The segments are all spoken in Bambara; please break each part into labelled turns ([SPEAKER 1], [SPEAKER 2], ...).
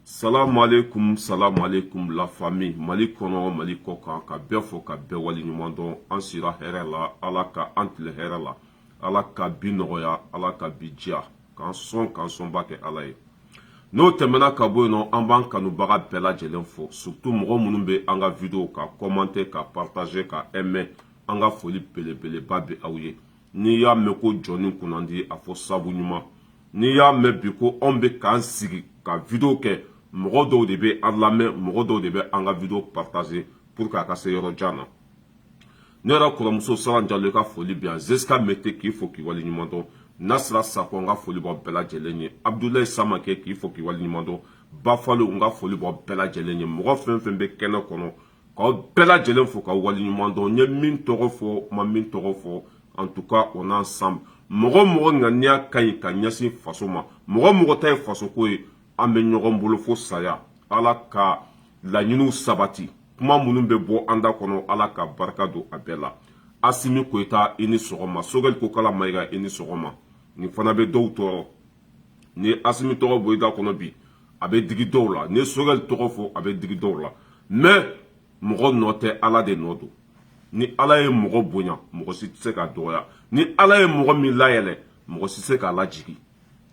[SPEAKER 1] salamualeykum salamualeykum la famille mali kɔnɔ mali kɔ kan ka bɛɛ fo ka bɛɛ wale ɲuman dɔn an sira hɛrɛ la ala ka an tile hɛrɛ la ala ka bi nɔgɔya ala ka bi diya k'an sɔn k'an sɔnba kɛ ala ye n'o tɛmɛna ka bɔ yen nɔ an b'an kanubaga bɛɛ lajɛlen fo surtout mɔgɔ minnu bɛ an ka video ka commenter ka partager ka aimer an ka foli belebeleba bɛ aw ye n'i y'a mɛn ko jɔnnin kunnandi a fɔ sabu ɲuman n'i y'a mɛn bi ko anw bɛ k'an sigi ka video kɛ mɔgɔ dɔw de bɛ an lamɛn mɔgɔ dɔw de bɛ an ka video partager pour que a ka se yɔrɔ jan na ne yɛrɛ kɔrɔmuso saran jalo ka foli b'i ye zeska mete k'i fo k'i wale ɲuman dɔn nasira sakɔ n ka foli b'aw bɛɛ lajɛlen ye abudulayi samakɛ k'i fo k'i wale ɲuman dɔn bafalo n ka foli b'aw bɛɛ lajɛlen ye mɔgɔ fɛn fɛn bɛ kɛnɛ kɔnɔ k'aw bɛɛ lajɛlen fo ka waleɲuman dɔn n ye min tɔgɔ fɔ n ma min tɔgɔ fɔ en tout cas on est ensemble mɔgɔ o mɔgɔ ŋaniya ka ɲi ka ɲɛsin faso ma mɔgɔ o mɔgɔ ta ye fasoko ye an bɛ ɲɔgɔn bolo fo saya ala ka laɲiniw sabati kuma minnu bɛ bɔ an da kɔnɔ ala ka barika don a bɛɛ la asimi koyita i ni sɔgɔma sogɛli kokala mayiga i ni sɔgɔma nin fana bɛ dɔw tɔɔrɔ ni asimi tɔgɔ bɔ i da kɔnɔ bi a bɛ digi dɔw la ni sogɛli tɔgɔ fɔ a bɛ digi dɔw la mais mɔgɔ nɔ tɛ ala de nɔ don ni ala ye mɔgɔ bonya mɔgɔ si tɛ se k'a dɔgɔya ni ala ye mɔgɔ min layɛlɛ mɔgɔ si tɛ se k'a lajigi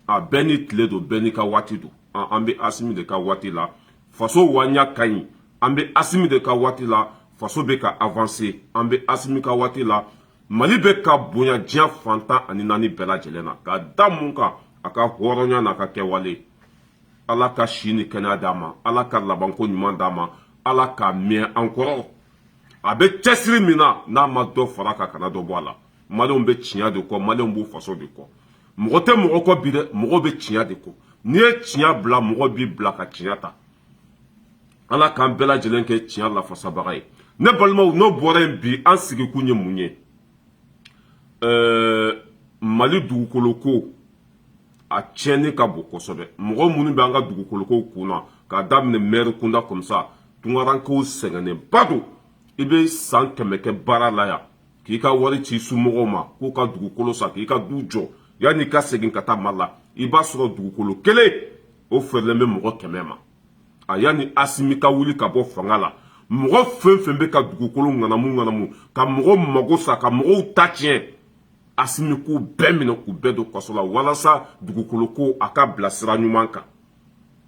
[SPEAKER 1] a bɛɛ n'i tile don bɛɛ n'i ka waati don an bɛ asimi de ka waati la faso ŋaniya ka ɲi an bɛ asimi de ka waati la faso bɛ ka avancer an bɛ asimi ka waati la mali bɛ ka bonya diɲɛ fantan ani naani bɛɛ lajɛlen na ka da mun kan a ka hɔrɔnya n'a ka kɛwale ala ka si ni kɛnɛya d'a ma ala ka labanko ɲuman d'a ma ala k'a mɛɛn an kɔrɔ a bɛ cɛsiri min na n'a ma dɔ fara a kan kana dɔ bɔ a la malenw bɛ tiɲɛ de kɔ malenw b'u faso de kɔ mɔgɔ tɛ mɔgɔ kɔ bi dɛ mɔgɔ bɛ tiɲɛ de kɔ n'i ye tiɲɛ bila mɔgɔ b'i bila ka tiɲɛ ta ala k'an bɛɛ lajɛlen kɛ tiɲɛ lafasabaga ye ne balimaw n'o bɔra yen bi an sigikun ye mun ye ɛɛ mali dugukolo ko a tiɲɛni ka bon kosɛbɛ mɔgɔ minnu bɛ an ka dugukolo ko kun na k'a daminɛ mɛri kunda kɔmisa tunkarankew sɛgɛnnenba don i bɛ san kɛmɛ kɛ baara la yan k'i ka wari ci somɔgɔw ma k'u ka dugukolo san k'i ka du jɔ yanni i ka segin ka taa mali la i b'a sɔrɔ dugukolo kelen o feerelen bɛ mɔgɔ kɛmɛ ma a yanni asimi ka wuli ka bɔ fanga la mɔgɔ fɛn fɛn bɛ ka dugukolo ŋanamu ŋanamu ka mɔgɔ mago sa ka mɔgɔw ta tiɲɛ asimi k'u bɛɛ minɛ k'u bɛɛ don kaso la walasa dugukolo ko a ka bila sira ɲuman kan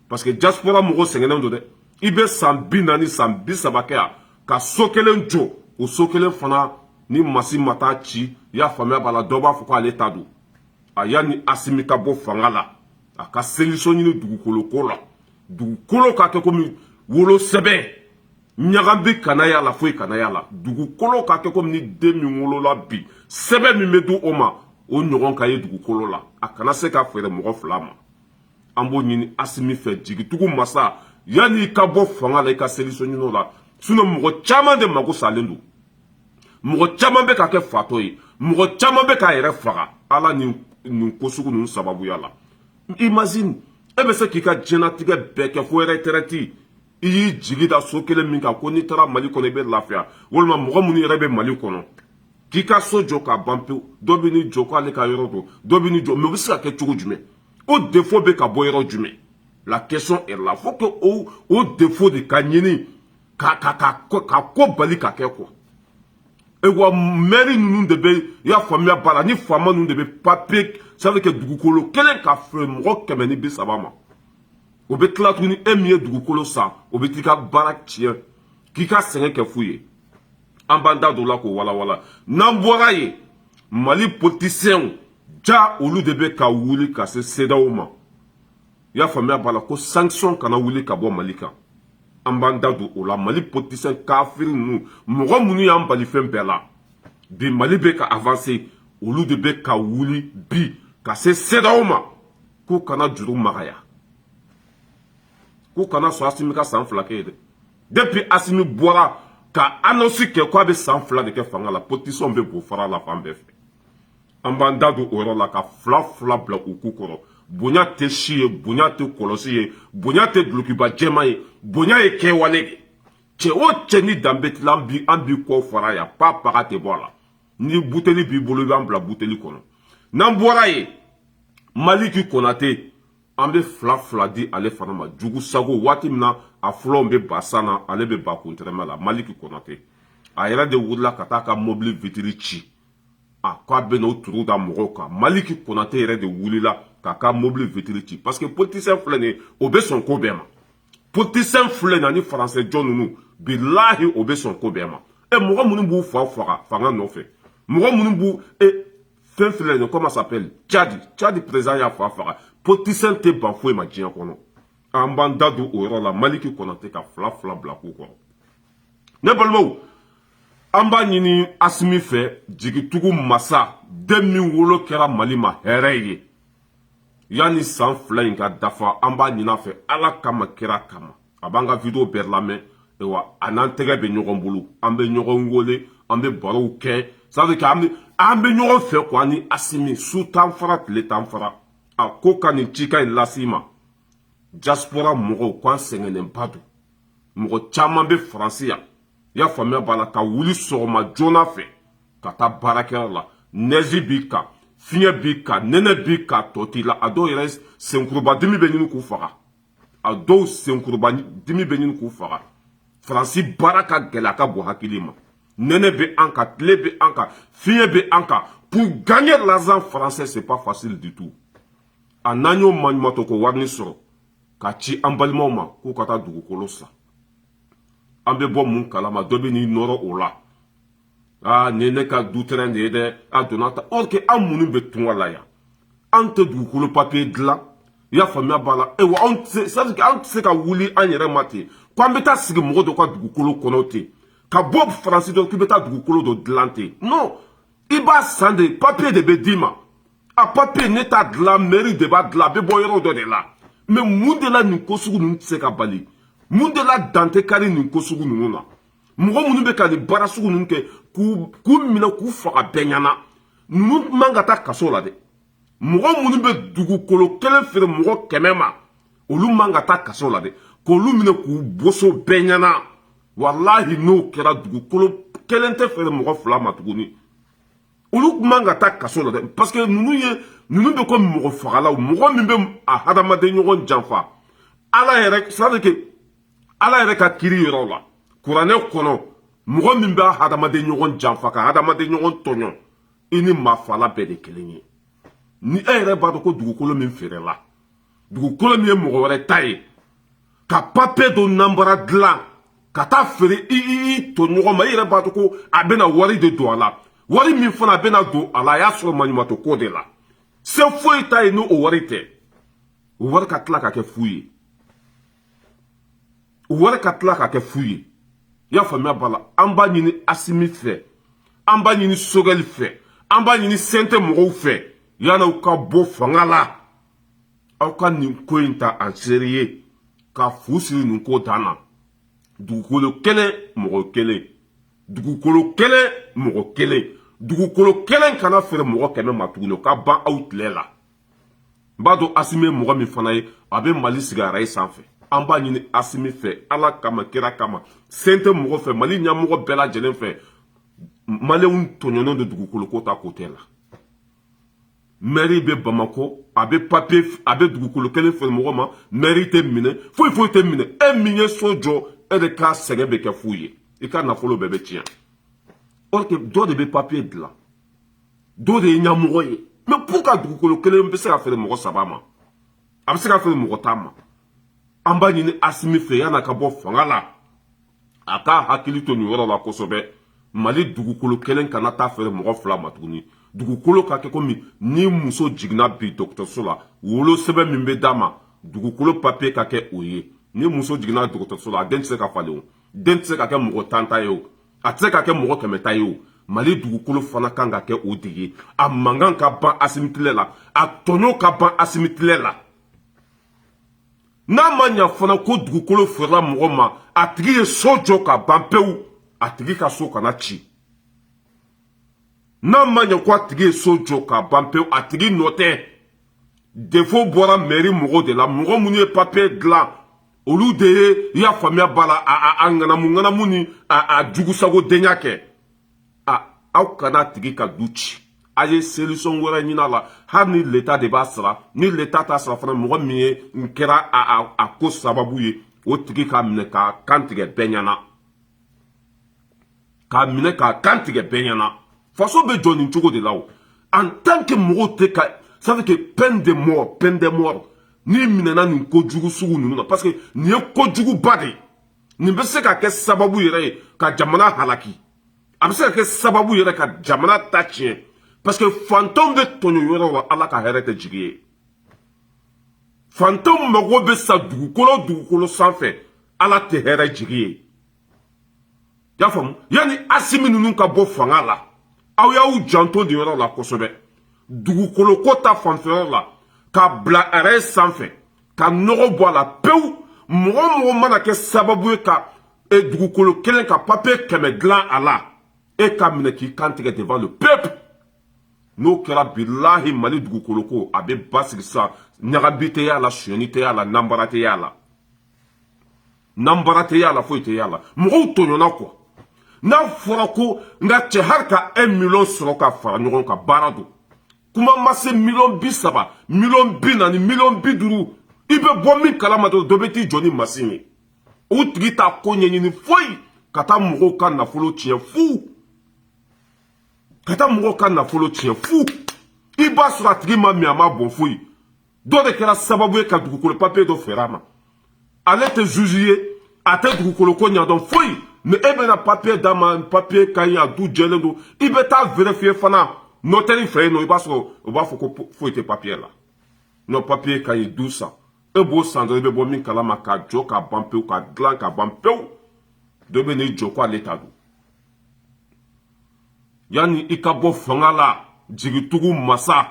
[SPEAKER 1] parce que diaspora mɔgɔw sɛgɛnnen don dɛ i bɛ san bi naani san bi saba kɛ yan ka so kelen jɔ o so kelen fana ni masin ma taa a ci i y'a faamuya b'a la dɔ b'a fɔ k'ale ta don a yanni asimi ka bɔ fanga la a ka solution ɲini dugukolo ko la dugukolo ka kɛ komi wolo sɛbɛn ɲagami kana y'a la foyi kana y'a la dugukolo ka kɛ komi ni den min wolola bi sɛbɛn min bɛ di o ma o ɲɔgɔn ka ye dugukolo la a kana se ka feere mɔgɔ fila ma an b'o ɲini asimi fɛ jigitugu masa yanni i ka bɔ fanga la i ka solution ɲin'o la sinɔn mɔgɔ caman de mako salen don mɔgɔ caman bɛ ka kɛ fatɔ ye mɔgɔ caman bɛ k'a yɛrɛ faga a la nin ko sugu ninnu sababuya la imagine e bɛ se k'i ka diɲɛnatigɛ bɛɛ kɛ fo ɛrɛtɛrɛti i y'i jigi da so kelen min kan ko n'i taara mali kɔnɔ i bɛ lafiya walima mɔgɔ minnu yɛrɛ bɛ mali kɔnɔ k'i ka so jɔ k'a ban pewu dɔ bɛ n'i jɔ k'ale ka yɔrɔ don dɔ bɛ n'i jɔ mɛ o bɛ se ka kɛ cogo jumɛn o defo bɛ ka bɔ yɔrɔ jumɛn la question est là faut que o o defo de ka ɲini ka ka ka ka ko bali ka kɛ quoi e wa mɛri ninnu de bɛ i y'a faamuya b'a la ni faama ninnu de bɛ papiye sani kɛ dugukolo kelen ka feere mɔgɔ kɛmɛ ni bi saba ma o bɛ tila tuguni e min ye dugukolo san o bɛ t'i ka baara tiɲɛ k'i ka sɛgɛn kɛ fu ye an b'an da don la k'o walawala n'an bɔra yen mali politisiyɛnw ja olu de bɛ ka wuli ka se sedaw ma i y'a faamuya b'a la ko sankisɔn kana wuli ka bɔ mali kan an b'an da don o la mali politisiyɛn kafiri ninnu mɔgɔ minnu y'an bali fɛn bɛɛ la bi mali bɛ ka avanse olu de bɛ ka wuli bi ka se sedaw ma k'u kana juru magaya k'u kana sɔn asimi ka san fila kɛ yen dɛ depuis asimi bɔra ka annonce kɛ k'a bɛ san fila de kɛ fanga la politisiyɛnw bɛ bo fara la fan bɛɛ fɛ an b'an da don o yɔrɔ la ka fila fila bila u ku kɔrɔ bonya tɛ si ye bonya tɛ kɔlɔsi ye bonya tɛ dulokiba jɛman ye bonya ye kɛwale de ye cɛ o cɛ ni danbe tila an b'i an b'i kɔ fara yan pa paga tɛ bɔ a la ni buteli b'i bolo i b'an bila buteli kɔnɔ n'an bɔra yen maliki konate an bɛ fila fila di ale fana ma jugu sago waati min na a fulanw bɛ ba san na ale bɛ ba kun tɛrɛmɛ la maliki konate a yɛrɛ de wulila ka taa ka mobili vitiri ci a ko a bɛna o turu da mɔgɔw kan maliki konate yɛrɛ de wulila k'a ka mobili vitiri ci parce que politisiyɛn filɛ nin ye o bɛ sɔn ko bɛɛ ma politisiyɛn filɛ nin ani faransɛ jɔn ninnu bilahi o bɛ sɔn ko bɛɛ ma ɛ mɔgɔ minnu b'u fa faga fanga nɔfɛ mɔgɔ minnu b'u e fɛn filɛ nin comment s'appelle cadi cadi président y'a fa faga politicien tɛ ban foyi ma diɲɛ kɔnɔ an b'an da don o yɔrɔ la maliki konate ka fila fila bila ku kɔrɔ ne balimaw an b'a ɲini asimi fɛ jigitugu masa den min wolo kɛra mali ma hɛrɛ ye yanni san fila in ka dafa an b'a ɲin'a fɛ ala kama kira kama a b'an ka video bɛɛ lamɛn ayiwa a n'an tɛgɛ bɛ ɲɔgɔn bolo an bɛ ɲɔgɔn wele an bɛ barow kɛ c'est à dire que an bɛ an bɛ ɲɔgɔn fɛ ko an ni asimi su t'an fara tile t'an fara a ko ka nin cikan in lase i ma diaspora mɔgɔw ko an sɛgɛnnenba don mɔgɔ caman bɛ faransi yan i y'a faamuya b'a la ka wuli sɔgɔma joona fɛ ka taa baarakɛyɔrɔ la nɛzi b'i kan fiɲɛ b'i kan nɛnɛ b'i kan tɔ t'i la a dɔw yɛrɛ senkurubadimi bɛ ɲini k'u faga a dɔw senkuruba dimi bɛ ɲini k'u faga faransi baara ka gɛlɛn a ka bon hakili ma nɛnɛ bɛ an kan tile bɛ an kan fiɲɛ bɛ an kan pour gagner l'argent français c'est pas facile du tout a n'an y'o maɲumatɔ ko warini sɔrɔ ka ci an balimaw ma k'u ka taa dugukolo san an bɛ bɔ mun kalama dɔ bɛ n'i nɔrɔ o la aa nin ye ne ka dutɛrɛn de ye dɛ a donna ta or que an minnu bɛ tunga la yan an tɛ dugukolo papiye dilan i y'a faamuya b'a la ewa anw tɛ se an tɛ se ka wuli an yɛrɛ ma ten ko an bɛ taa sigi mɔgɔ dɔ ka dugukolo kɔnɔ ten ka bɔ faransi dɔ k'i bɛ taa dugukolo dɔ dilan ten non i b'a san de papiye de bɛ d'i ma a papiye ne t'a dilan mɛri de b'a dilan a bɛ bɔ yɔrɔ dɔ de la mais mun de la nin ko sugu ninnu tɛ se ka bali mun de la dan tɛ kari nin ko sugu ninnu na mɔgɔ minnu bɛ ka nin baara sugu ninnu kɛ k'u minɛ k'u faga bɛɛ ɲɛna ninnu man ka taa kaso la dɛ mɔgɔ minnu bɛ dugukolo kelen feere mɔgɔ kɛmɛ ma olu man ka taa kaso la dɛ k'olu minɛ k'u boso bɛɛ ɲɛna walahi n'o kɛra dugukolo kelen tɛ feere mɔgɔ fila ma tuguni olu tun man ka taa kaso la dɛ parce que ninnu ye ninnu bɛ ko mɔgɔfagalaw mɔgɔ min bɛ a hadamaden ɲɔgɔn janfa ala yɛrɛ c'est à dire que ala yɛrɛ ka kiri yɔrɔ la kuranɛ kɔnɔ mɔgɔ min b'a hadamaden ɲɔgɔn janfa ka hadamaden ɲɔgɔn tɔɲɔ i ni maafala bɛɛ de kelen ye ni e yɛrɛ b'a dɔn ko dugukolo min feerela dugukolo min ye mɔgɔ wɛrɛ ta ye ka papiye dɔ nanbara dilan ka taa feere i i tɔɲɔgɔn ma i yɛrɛ b'a dɔn ko a bɛna wari de don a la wari min fana bɛna don a la a y'a sɔrɔ maɲumatɔ ko de la se foyi t'a ye ni o wari tɛ o wari ka tila ka kɛ fu ye o wari ka tila ka kɛ fu ye i y'a faamuya b'a la an b'a ɲini asimi fɛ an b'a ɲini sogɛli fɛ an b'a ɲini CNT mɔgɔw fɛ yann'aw ka bɔ fanga la aw ka nin ko in ta en sérieux ka fu siri nin ko dan na dugukolo kelen mɔgɔ kelen dugukolo kelen mɔgɔ kelen dugukolo kelen kana feere mɔgɔ kɛmɛ ma tuguni o ka ban aw tile la n b'a dɔn asimi ye mɔgɔ min fana ye a bɛ mali sigi arayi sanfɛ an b'a ɲini asimi fɛ ala kama kira kama sen tɛ mɔgɔ fɛ mali ɲɛmɔgɔ bɛɛ lajɛlen fɛ maliyɛnw tɔɲɔnen don dugukolo ko ta kote la mɛri bɛ bamako a bɛ papiye a bɛ dugukolo kelen feere mɔgɔ ma mɛri tɛ minɛ foyi foyi tɛ minɛ e min ye so jɔ e de ka sɛgɛn bɛ kɛ fu ye i ka nafolo bɛɛ bɛ tiɲɛ dɔ de bɛ papiye dilan dɔ de ye ɲɛmɔgɔ ye mais pourquoi dugukolo kelen bɛ se ka feere mɔgɔ saba ma a bɛ se ka feere mɔgɔ tan ma an b'a ɲini asimi fɛ yann'a ka bɔ fanga la a k'a hakili to nin yɔrɔ la kosɛbɛ mali dugukolo kelen kana taa feere mɔgɔ fila ma tuguni dugukolo ka kɛ komi ni muso jiginna bi dɔgɔtɔrɔso la wolo sɛbɛn min bɛ d'a ma dugukolo papiye ka kɛ o ye ni muso jiginna dɔgɔtɔrɔso la a den tɛ se ka falen o den tɛ se ka kɛ mɔgɔ tan ta ye o a tɛ se ka kɛ mɔgɔ kɛmɛ ta ye o mali dugukolo fana kan ka kɛ o de ye a mankan ka ban asimi tile la a tɔɲɔ ka ban asimi tile la n'a ma ɲa fana ko dugukolo feerela mɔgɔ ma a tigi ye so jɔ ka ban pewu a tigi ka so kana ci n'a ma ɲa ko a tigi ye so jɔ ka ban pewu a tigi nɔ tɛ defo bɔra mɛri mɔgɔw de la mɔgɔ minnu ye papiye dilan olu de ye i y'a faamuya b'a la a ŋanamu ŋanamu ni a jugusago denya kɛ a aw kan'a tigi ka du ci a ye solution wɛrɛ ɲin'a la hali ni leta de b'a sara ni leta t'a sara fana mɔgɔ min ye n kɛra a ko sababu ye o tigi ka minɛ k'a kan tigɛ bɛɛ ɲɛna k'a minɛ k'a kan tigɛ bɛɛ ɲɛna faso bɛ jɔ nin cogo de la o en tant que mɔgɔw tɛ ka ça veut dire que peine de mort peine de mort n'i minɛna nin ko jugu sugu ninnu na parce que nin ye ko juguba de ye nin bɛ se ka kɛ sababu yɛrɛ ye ka jamana halaki a bɛ se ka kɛ sababu yɛrɛ ka jamana ta tiɲɛ parce que fantanw bɛ tɔɲɔ yɔrɔ la ala ka hɛrɛ tɛ jigin yen fantanw mago bɛ sa dugukolo dugukolo sanfɛ ala tɛ hɛrɛ jigin yen y'a faamu yanni asimi ninnu ka bɔ fanga la aw y'aw janto nin yɔrɔ la kosɛbɛ dugukolo ko ta fanfɛ yɔrɔ la k'a bila arayi sanfɛ ka nɔgɔ bɔ a la pewu mɔgɔ o mɔgɔ mana kɛ sababu ye ka e dugukolo kelen ka papiye kɛmɛ dilan a la e ka minɛ k'i kan tigɛ devant le peuple n'o kɛra bilahi mali dugukolo ko a bɛ basigi sisan ɲagami tɛ y'a la sonyani tɛ y'a la nanbara tɛ y'a la n'an baara tɛ y'a la foyi tɛ y'a la mɔgɔw tɔɲɔna kuwa n'a fɔra ko n ka cɛ hali ka un miliyɔn sɔrɔ ka fara ɲɔgɔn kan baara don kuma ma se miliyɔn bi saba miliyɔn bi naani miliyɔn bi duuru i bɛ bɔ min kalama dɔrɔn dɔ bɛ t'i jɔ ni masin ye o tigi t'a ko ɲɛɲini foyi ka taa mɔgɔw ka nafolo tiɲɛ fu ka taa mɔgɔw ka nafolo tiɲɛ fu i b'a sɔrɔ a tigi ma min a ma bɔn foyi dɔ de kɛra sababu ye ka dugukolo papiye dɔ feere a ma ale tɛ zuzi ye a tɛ dugukolo ko ɲɛdɔn foyi ni e bɛna papiye d'a ma papiye ka ɲi a du jɛlen don i bɛ taa verifiye fana nɔtɛri fɛ yen nɔ i b'a sɔrɔ u b'a fɔ ko foyi tɛ papiye la n'o papiye ka ɲi du san e b'o san dɔrɔn i bɛ bɔ min kalama k'a jɔ k'a ban pewu k'a dilan k'a ban pewu dɔ bɛ n'i jɔ ko ale ta don yanni i ka bɔ fanga la jigitugu masa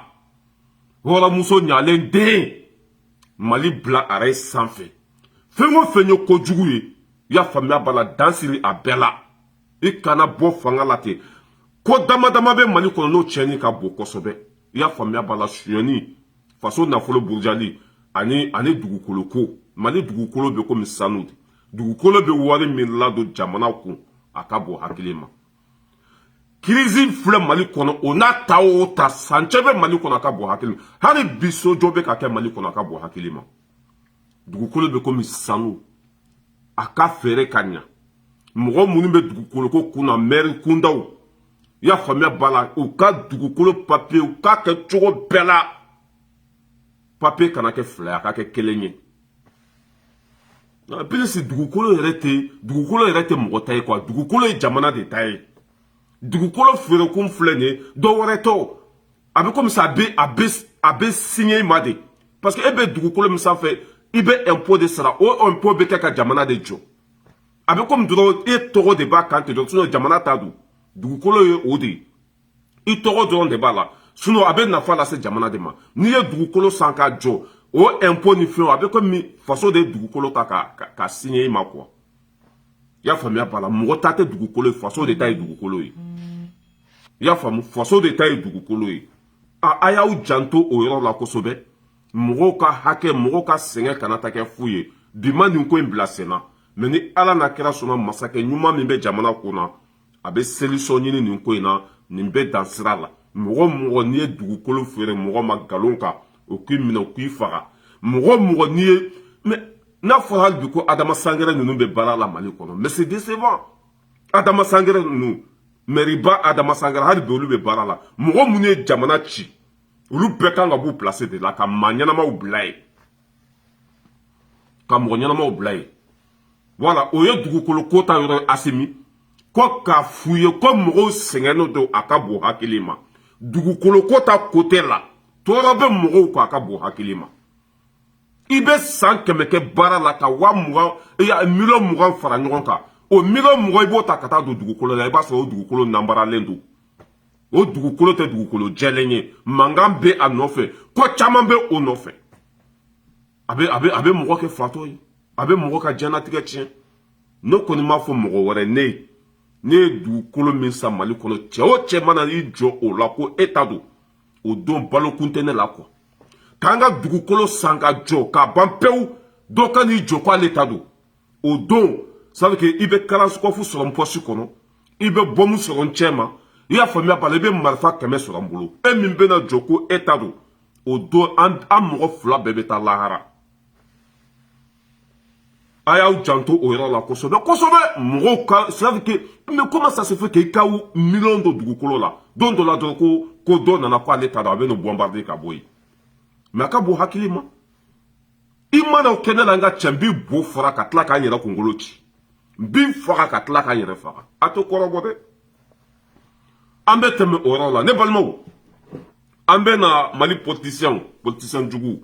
[SPEAKER 1] hɔrɔnmuso ɲalen den mali bila arayi sanfɛ fɛn o fɛn ye kojugu ye i y'a faamuya b'a la dan siri a bɛɛ la i kana bɔ fanga la ten ko dama dama bɛ mali kɔnɔ n'o tiɲɛni ka bon kosɛbɛ i y'a faamuya b'a la suyɛni faso nafolo burujali ani ani dugukolo ko mali dugukolo bɛ komi sanu de dugukolo bɛ wari min ladon jamana kun a ka bon hakili ma kirizi filɛ mali kɔnɔ o n'a ta o ta sancɛ bɛ mali kɔnɔ a ka bon hakili ma hali bi sojɔ bɛ ka kɛ mali kɔnɔ a ka bon hakili ma dugukolo bɛ komi sanu a ka feere ka ɲa mɔgɔ minnu bɛ dugukoloko kun na mɛri kundaw i y'a faamuya b'a la u ka dugukolo papiye u k'a kɛ cogo bɛɛ la papiye kana kɛ fila ye a ka kɛ kelen ye Bilisi dugukolo yɛrɛ tɛ dugukolo yɛrɛ tɛ mɔgɔ ta ye kuwa dugukolo ye jamana de ta ye dugukolo feerekun filɛ nin ye dɔ wɛrɛ tɔ a bɛ komi a bɛ a bɛ a bɛ siɲɛ i ma de parce que e bɛ dugukolo min sanfɛ i bɛ impôt de sara o impôt bɛ kɛ ka jamana de jɔ a bɛ komi dɔrɔn e tɔgɔ de b'a kan ten dɔrɔn jamana ta don dugukolo ye o de ye i tɔgɔ dɔrɔn de b'a la sinon a bɛ nafa lase jamana de ma n'i ye dugukolo san k'a jɔ o impôt ni fɛnw a bɛ komi faso de ye dugukolo ta ka k'a signer i ma quoi i y'a faamuya b'a la mɔgɔ ta tɛ dugukolo ye faso de ta ye dugukolo ye i y'a faamu faso de ta ye dugukolo ye a a y'aw janto o yɔrɔ la kosɛbɛ mɔgɔw ka hakɛ mɔgɔw ka sɛgɛn kana taa kɛ fu ye bi ma nin ko in bila senna mɛ ni ala n'a kira sɔnna masakɛ ɲuman min bɛ jamana kun na a bɛ solution ɲini nin ko in na nin bɛ dan sira la mɔgɔ mɔgɔ n'i ye dugukolo feere mɔgɔ ma nkalon kan o k'i minɛ o k'i faga mɔgɔ mɔgɔ n'i ye mɛ n'a fɔra hali bi ko adama sangare ninnu bɛ baara la mali kɔnɔ mɛ c'est décevant adama sangare ninnu mɛriba adama sangare hali bi olu bɛ baara la mɔgɔ minnu ye jamana ci olu bɛɛ kan ka b'u place de la ka maa ɲɛnamaw bila yen ka mɔgɔ ɲɛnamaw bila yen wala o ye dugukolo ko ta yɔrɔ ye asimi ko k'a f'u ye ko mɔgɔw sɛgɛnnen don a ka bon hakili ma dugukolo ko ta kote la tɔɔrɔ bɛ mɔgɔw kan a ka bon hakili ma i bɛ san kɛmɛ kɛ baara la ka wa mugan miliyɔn mugan fara ɲɔgɔn kan o miliyɔn mugan i b'o ta ka taa don dugukolo la i b'a sɔrɔ o dugukolo nanbaralen don o dugukolo tɛ dugukolo jɛlen ye mankan bɛ a nɔfɛ ko caman bɛ o nɔfɛ a bɛ a bɛ a bɛ mɔgɔ kɛ fatɔ ye a bɛ mɔgɔ ka diɲɛnatigɛ tiɲɛ ne kɔni m'a fɔ mɔgɔ wɛrɛ ne ye ne ye dugukolo min san mali kɔnɔ cɛ o cɛ mana i jɔ o la ko e ta don o don balokun tɛ ne la kɔ ka n ka dugukolo san k'a jɔ k'a ban pewu dɔ ka n'i jɔ k'ale ta don o don sabu ke i bɛ kalasikɔfu sɔrɔ n pɔsi kɔnɔ i bɛ bɔmu sɔrɔ n cɛ ma i y'a faamuya b'a la i bɛ marifa kɛmɛ sɔrɔ n bolo e min bɛna jɔ ko e ta don o don an an mɔgɔ fila bɛɛ bɛ taa lahara a y'aw janto o yɔrɔ la kosɛbɛ kosɛbɛ mɔgɔw ka sirafi ke mais comment ça se fait k'i ka miliyɔn don dugukolo la don dɔ la dɔrɔn ko ko dɔ nana ko ale ta don a bɛ n'o bɔnbarde ka bɔ yen mɛ a ka bon hakili ma i mana o kɛ ne la n ka cɛ n b'i bo fara ka tila ka n yɛrɛ kunkolo ci n b'i faga ka tila ka n yɛrɛ faga a t'o kɔrɔbɔ dɛ an bɛ tɛmɛ o yɔrɔ la ne balimaw an bɛ na mali politisiyɛnw politisiyɛn juguw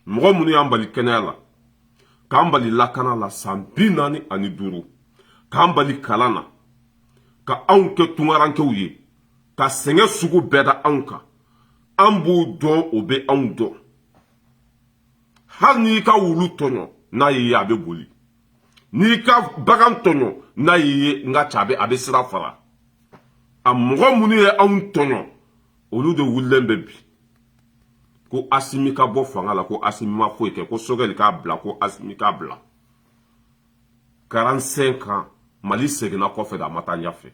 [SPEAKER 1] mɔgɔ minnu y'an bali kɛnɛya la k'an bali lakana la san bi naani ani duuru k'an bali kalan na ka anw kɛ tungarankew ye ka sɛgɛn sugu bɛɛ da anw kan an b'u dɔn u bɛ anw dɔn hali n'i ka wulu tɔɲɔ n'a y'i ye a bɛ boli n'i ka bagan tɔɲɔ n'a y'i ye n ka cɛ a bɛ a bɛ sira fara a mɔgɔ minnu ye anw tɔɲɔ olu de wulilen bɛ bi ko asimi ka bɔ fanga la ko asimi ma foyi kɛ ko sogɛli k'a bila ko asimi k'a bila 45 ans mali seginna kɔfɛ de a ma taa ɲɛfɛ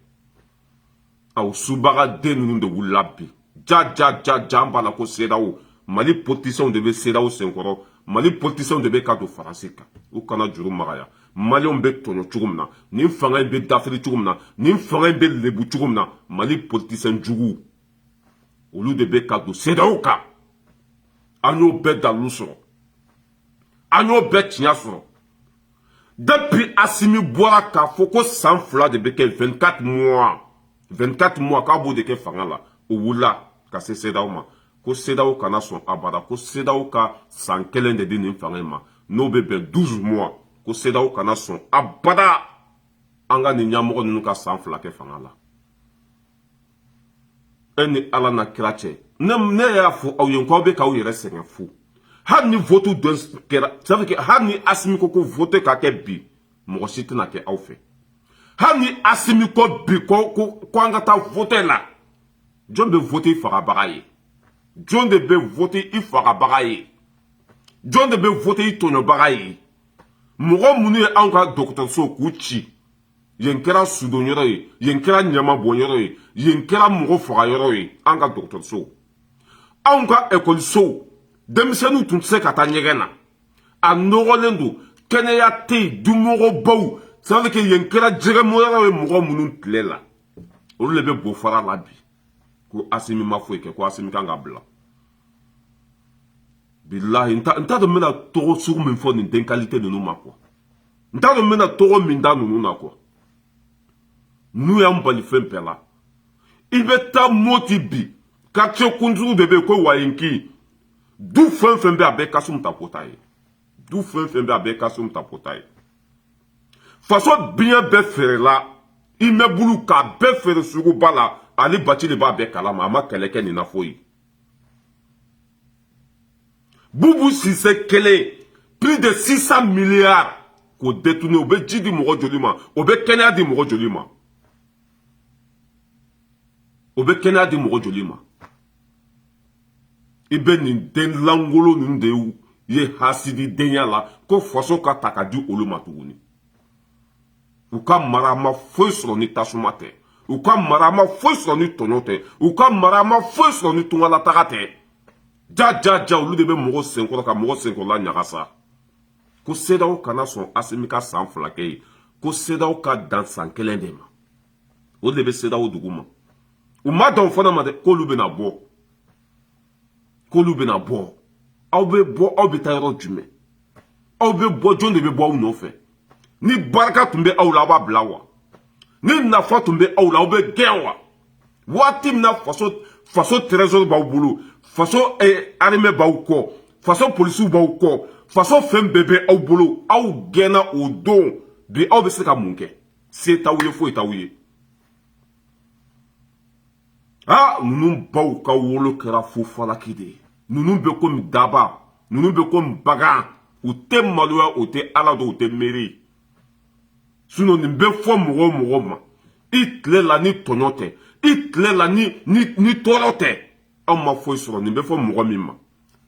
[SPEAKER 1] a o subagaden ninnu de wulila bi ja ja ja ja an b'a la ko sedeyawo mali politisiɛnw de bɛ sedeyawo senkɔrɔ mali politisiɛnw de bɛ ka don faransi kan u kana juru magaya maliyɛnw bɛ tɔɲɔ cogo min na nin fanga in bɛ dafiri cogo min na nin fanga in bɛ lebu cogo min na mali politisiɛn juguw olu de bɛ ka don sedeyawo kan an y'o bɛɛ dalilu sɔrɔ an y'o bɛɛ tiɲɛ sɔrɔ depuis asimi bɔra k'a fɔ ko san fila de bɛ kɛ 24 mois 24 mois k'a b'o de kɛ fanga la o wulila ka se sedaw ma ko sedaw kana sɔn abada ko sedaw ka san kelen de di nin fanga in ma n'o bɛ bɛn 12 mois ko sedaw kana sɔn abada an ka nin ɲɛmɔgɔ ninnu ka san fila kɛ fanga la e ni ala n'a kira cɛ ne ne y'a fɔ aw ye ko aw bɛ k'aw yɛrɛ sɛgɛn fu hali ni vote dɔ kɛra sabu kɛ hali ni asimi ko ko vote ka kɛ bi mɔgɔ si tɛna kɛ aw fɛ hali ni asimi ko bi ko ko ko an ka taa vote la jɔn bɛ vote i fagabaga ye jɔn de bɛ vote i fagabaga ye jɔn de bɛ vote i tɔɲɔbaga ye mɔgɔ minnu ye anw ka dɔgɔtɔrɔso k'u ci yen kɛra sudon yɔrɔ ye yen kɛra ɲama bɔn yɔrɔ ye yen kɛra mɔgɔ faga yɔrɔ ye an ka dɔgɔtɔrɔsow anw ka ekɔlisow denmisɛnninw tun tɛ se ka taa ɲɛgɛn na a nɔgɔlen don kɛnɛya tɛ yen dumɔgɔbaw sadi ke yen kɛra jɛgɛmɔnyɔrɔ ye mɔgɔ minnu tile la olu de bɛ bo fara la bi ko asimi ma foyi kɛ ko asimi ka kan k'a bila bilahi n t'a dɔn n bɛna tɔgɔ sugu min fɔ nin den qualité ninnu ma quoi n t'a dɔn n bɛna tɔgɔ min da ninnu na quoi ninnu y'an bali fɛn bɛɛ la i bɛ taa moti bi quartier kuturu de bɛ yen ko wayenki du fɛn fɛn bɛ a bɛɛ kasum tapo ta ye du fɛn fɛn bɛ a bɛɛ kasum tapo ta ye faso biɲɛ bɛɛ feerela immeuble k'a bɛɛ feere suguba la ali batili b'a bɛɛ kalama a ma kɛlɛ kɛ nin na foyi bubu sise kelen plus de 600 milliards k'o détourner o bɛ ji di mɔgɔ joli ma o bɛ kɛnɛya di mɔgɔ joli ma o bɛ kɛnɛya di mɔgɔ joli ma i bɛ nin den lankolon ninnu de ye hasididenya la ko faso ka ta ka di olu ma tuguni u ka mara ma foyi sɔrɔ ni tasuma tɛ u ka mara ma foyi sɔrɔ ni tɔɲɔ tɛ u ka mara ma foyi sɔrɔ ni tungalataga tɛ ja ja ja olu de bɛ mɔgɔ senkɔrɔ ka mɔgɔ senkɔrɔla ɲagasa ko sedaw kana sɔn asimi ka san fila kɛ ye ko sedaw ka dan san kelen de ma o de bɛ sedaw dugu ma u ma dan o fana ma dɛ k'olu bɛna bɔ k'olu bɛna bɔ aw bɛ bɔ aw bɛ taa yɔrɔ jumɛn aw bɛ bɔ jɔn de bɛ bɔ aw nɔfɛ ni barika tun bɛ aw la aw b'a bila wa ni nafa tun bɛ aw la aw bɛ gɛn wa waati min na faso faso trésor b'aw bolo faso eh, armée b'aw kɔ faso polisiw b'aw kɔ faso fɛn bɛɛ bɛ aw bolo aw gɛnna o don bi aw bɛ se ka mun kɛ se t'aw ye foyi t'aw ye aa ninnu baw ka wolo kɛra fu falaki de ye ninnu bɛ komi daaba ninnu bɛ komi bagan u tɛ maloya u tɛ ala dɔn u tɛ miiri ye sinɔn nin bɛ fɔ mɔgɔ o mɔgɔ ma i tile la ni tɔɲɔ tɛ i tile la ni ni ni tɔɔrɔ tɛ anw ma foyi sɔrɔ nin bɛ fɔ mɔgɔ min ma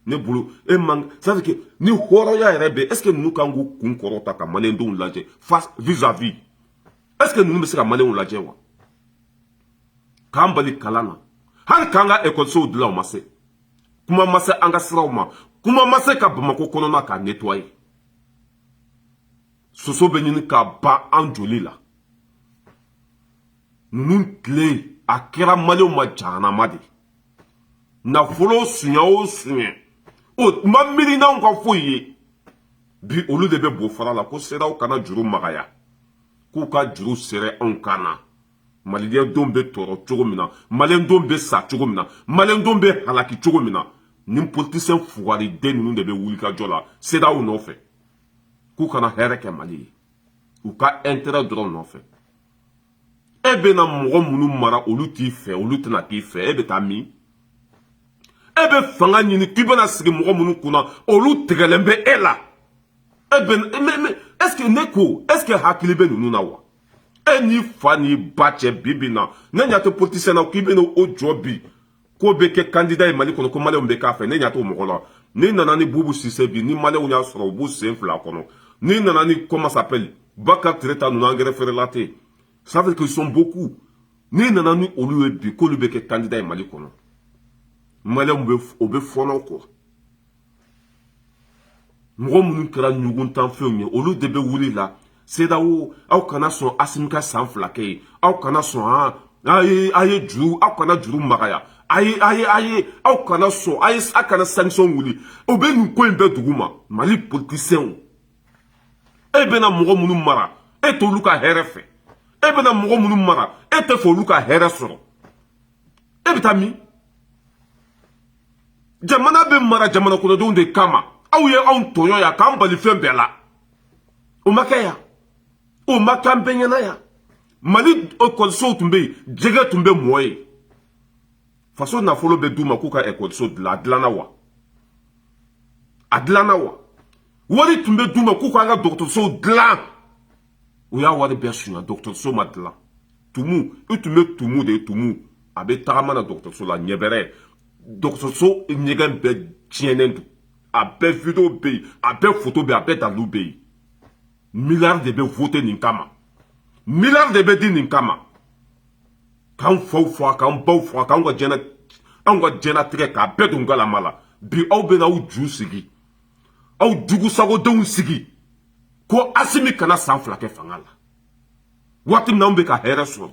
[SPEAKER 1] ne bolo e man sadike ni hɔrɔnya yɛrɛ bɛ ɛseke ninnu kan k'u kun kɔrɔ ta ka maliyɛndenw lajɛ face vis-à-vis ɛseke ninnu bɛ se ka maliyɛnw lajɛ wa k'an bali kalan na hali k'an ka ekɔlisow dilan u ma se kuma ma se an ka siraw ma kuma ma se ka bamako kɔnɔna k'a netwaye soso bɛ ɲini ka ban an joli la ninnu tile a kɛra maliyɛnw ma jahanama de nafolo sunya o sunya o ma miiri n'anw ka foyi ye bi olu de bɛ bo fara la ko sedaw kana juru magaya k'u ka juru sɛrɛ anw kan na maliyɛndenw bɛ tɔɔrɔ cogo min na maliyɛndenw bɛ sa cogo min na maliyɛndenw bɛ halaki cogo min na ni politisiyɛn fugariden ninnu de bɛ wulikajɔ la sedaw nɔfɛ k'u kana hɛrɛ kɛ mali ye u ka ɛntɛrɛ dɔrɔn nɔfɛ e bɛna mɔgɔ minnu mara olu t'i fɛ olu tɛna k'i fɛ e bɛ taa min e bɛ fanga ɲini k'i bɛna sigi mɔgɔ minnu kunna olu tigɛlen bɛ e la e bɛ est-ce que ne ko est-ce que hakili bɛ ninnu na wa e n'i fa n'i ba cɛ bi bi in na ne ɲa t'o politisiyɛn na k'i bɛna o jɔ bi k'o bɛ kɛ kandida ye mali kɔnɔ ko maliyɛnw bɛ k'a fɛ ne ɲa t'o mɔgɔ la n'i nana ni bubu sise bi ni maliyɛnw y'a sɔrɔ u b'u sen fila kɔnɔ n'i nana ni comment s'appelle bakari tereta ninnu angɛrɛ feerela tɛ yen ça veut qu'ils sont beaucoup n'i nana ni olu ye bi k'olu bɛ kɛ kandida ye mali kɔnɔ maliyɛnw bɛ o bɛ fɔnɔ kɔ mɔgɔ minnu kɛra ɲuguntafɛnw ye olu de bɛ wuli la sedawo aw kana sɔn asimi ka san fila kɛ ye aw kana sɔn a ah, ye a ye juru aw kana juru magaya a ye a ye a ye aw kana sɔn a ye a kana sanction wuli o bɛ nin ko in bɛɛ duguma mali politisiyɛnw e bɛna mɔgɔ minnu mara e t'olu ka hɛrɛ fɛ e bɛna mɔgɔ minnu mara e tɛ fɛ olu ka hɛrɛ sɔrɔ e bɛ taa min jamana bɛ mara jamana kɔnɔdenw de kama aw ye anw tɔɲɔ yan k'an bali fɛn bɛɛ la o ma kɛ yan o ma k'an bɛɛ ɲɛna yan mali ekɔlisow tun bɛ yen jɛgɛ tun bɛ mɔn yen faso nafolo bɛ d'u ma k'u ka ekɔliso dilan a dilanna wa a dilanna wa wari tun bɛ d'u ma k'u k'an ka dɔgɔtɔrɔsow dilan u y'a wari bɛɛ sunya dɔgɔtɔrɔso ma dilan tumu i tun bɛ tumu de tumu a bɛ tagama la dɔgɔtɔrɔso la ɲɛbɛrɛ dɔgɔtɔrɔso ɲɛgɛn bɛɛ tiɲɛnen don a bɛɛ video bɛ yen a bɛɛ foto bɛ yen a bɛɛ dalilu bɛ yen miliyari de bɛ vote nin kama miliyari de bɛ di nin kama k'an faw faga k'an baw faga k'an ka jɛnɛ anw ka jɛnatigɛ k'a bɛɛ don galama la bi aw bɛna aw ju sigi aw jugusagodenw sigi ko asimi kana san fila kɛ fanga la waati min na anw bɛ ka hɛrɛ sɔrɔ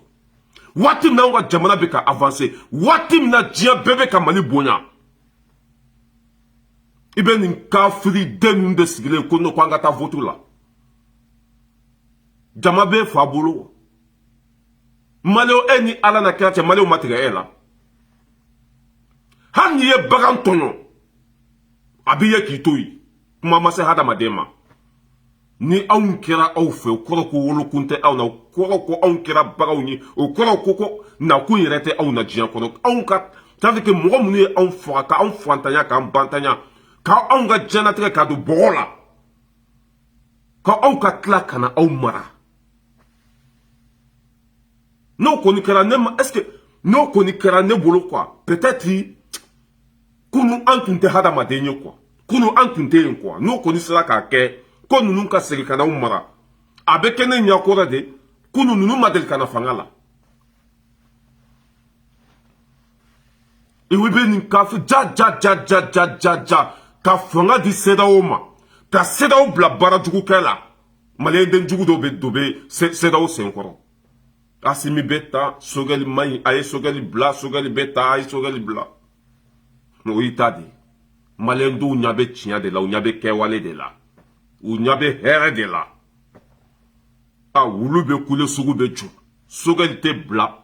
[SPEAKER 1] waati min na anw ka jamana bɛ ka avanse waati min na diɲɛ bɛɛ bɛ ka mali bonya i bɛ nin kafiri den ninnu de sigilen ko n'o ko an ka taa vote la jama bɛ fa bolo maliyɛnw e ni ala n'a kira cɛ maliyɛnw ma tigɛ e la hali n'i ye bagan tɔɲɔ a b'i ye k'i to yen kuma ma se hadamaden ma ni anw kɛra aw fɛ o kɔrɔ ko wolokun tɛ aw na o kɔrɔ ko anw kɛra baganw ye o kɔrɔ ko ko nakun yɛrɛ tɛ aw na diɲɛ kɔnɔ anw ka tari que mɔgɔ minnu ye anw faga ka anw fantanya k'an bantanya ka anw ka diɲɛnatigɛ ka don bɔgɔ la ka aw ka tila ka na aw mara n'o kɔni kɛra ne ma est ce que n'o kɔni kɛra ne bolo quoi peut être kunu an tun tɛ hadamaden ye quoi kunu an tun tɛ yen quoi n'o kɔni sera k'a kɛ ko ninnu ka segin ka n'aw mara a bɛ kɛ ne ɲɛkɔrɔ de kunu ninnu ma deli ka na fanga la iwe bɛ nin k'a fɔ ja ja ja ja ja ja ja ka fanga di CEDEAO ma ka CEDEAO bila baara jugu kɛ la maliyɛnden jugu dɔw bɛ dɔ bɛ CEDEAO senkɔrɔ Asimi bɛ taa sogɛli man ɲi a ye sogɛli bila sogɛli bɛ taa a ye sogɛli bila mɛ o y'i ta de maliyɛndenw ɲa bɛ tiɲɛ de la u ɲa bɛ kɛwale de la u ɲa bɛ hɛrɛ de la a wulu bɛ kule sugu bɛ jɔ sogɛli tɛ bila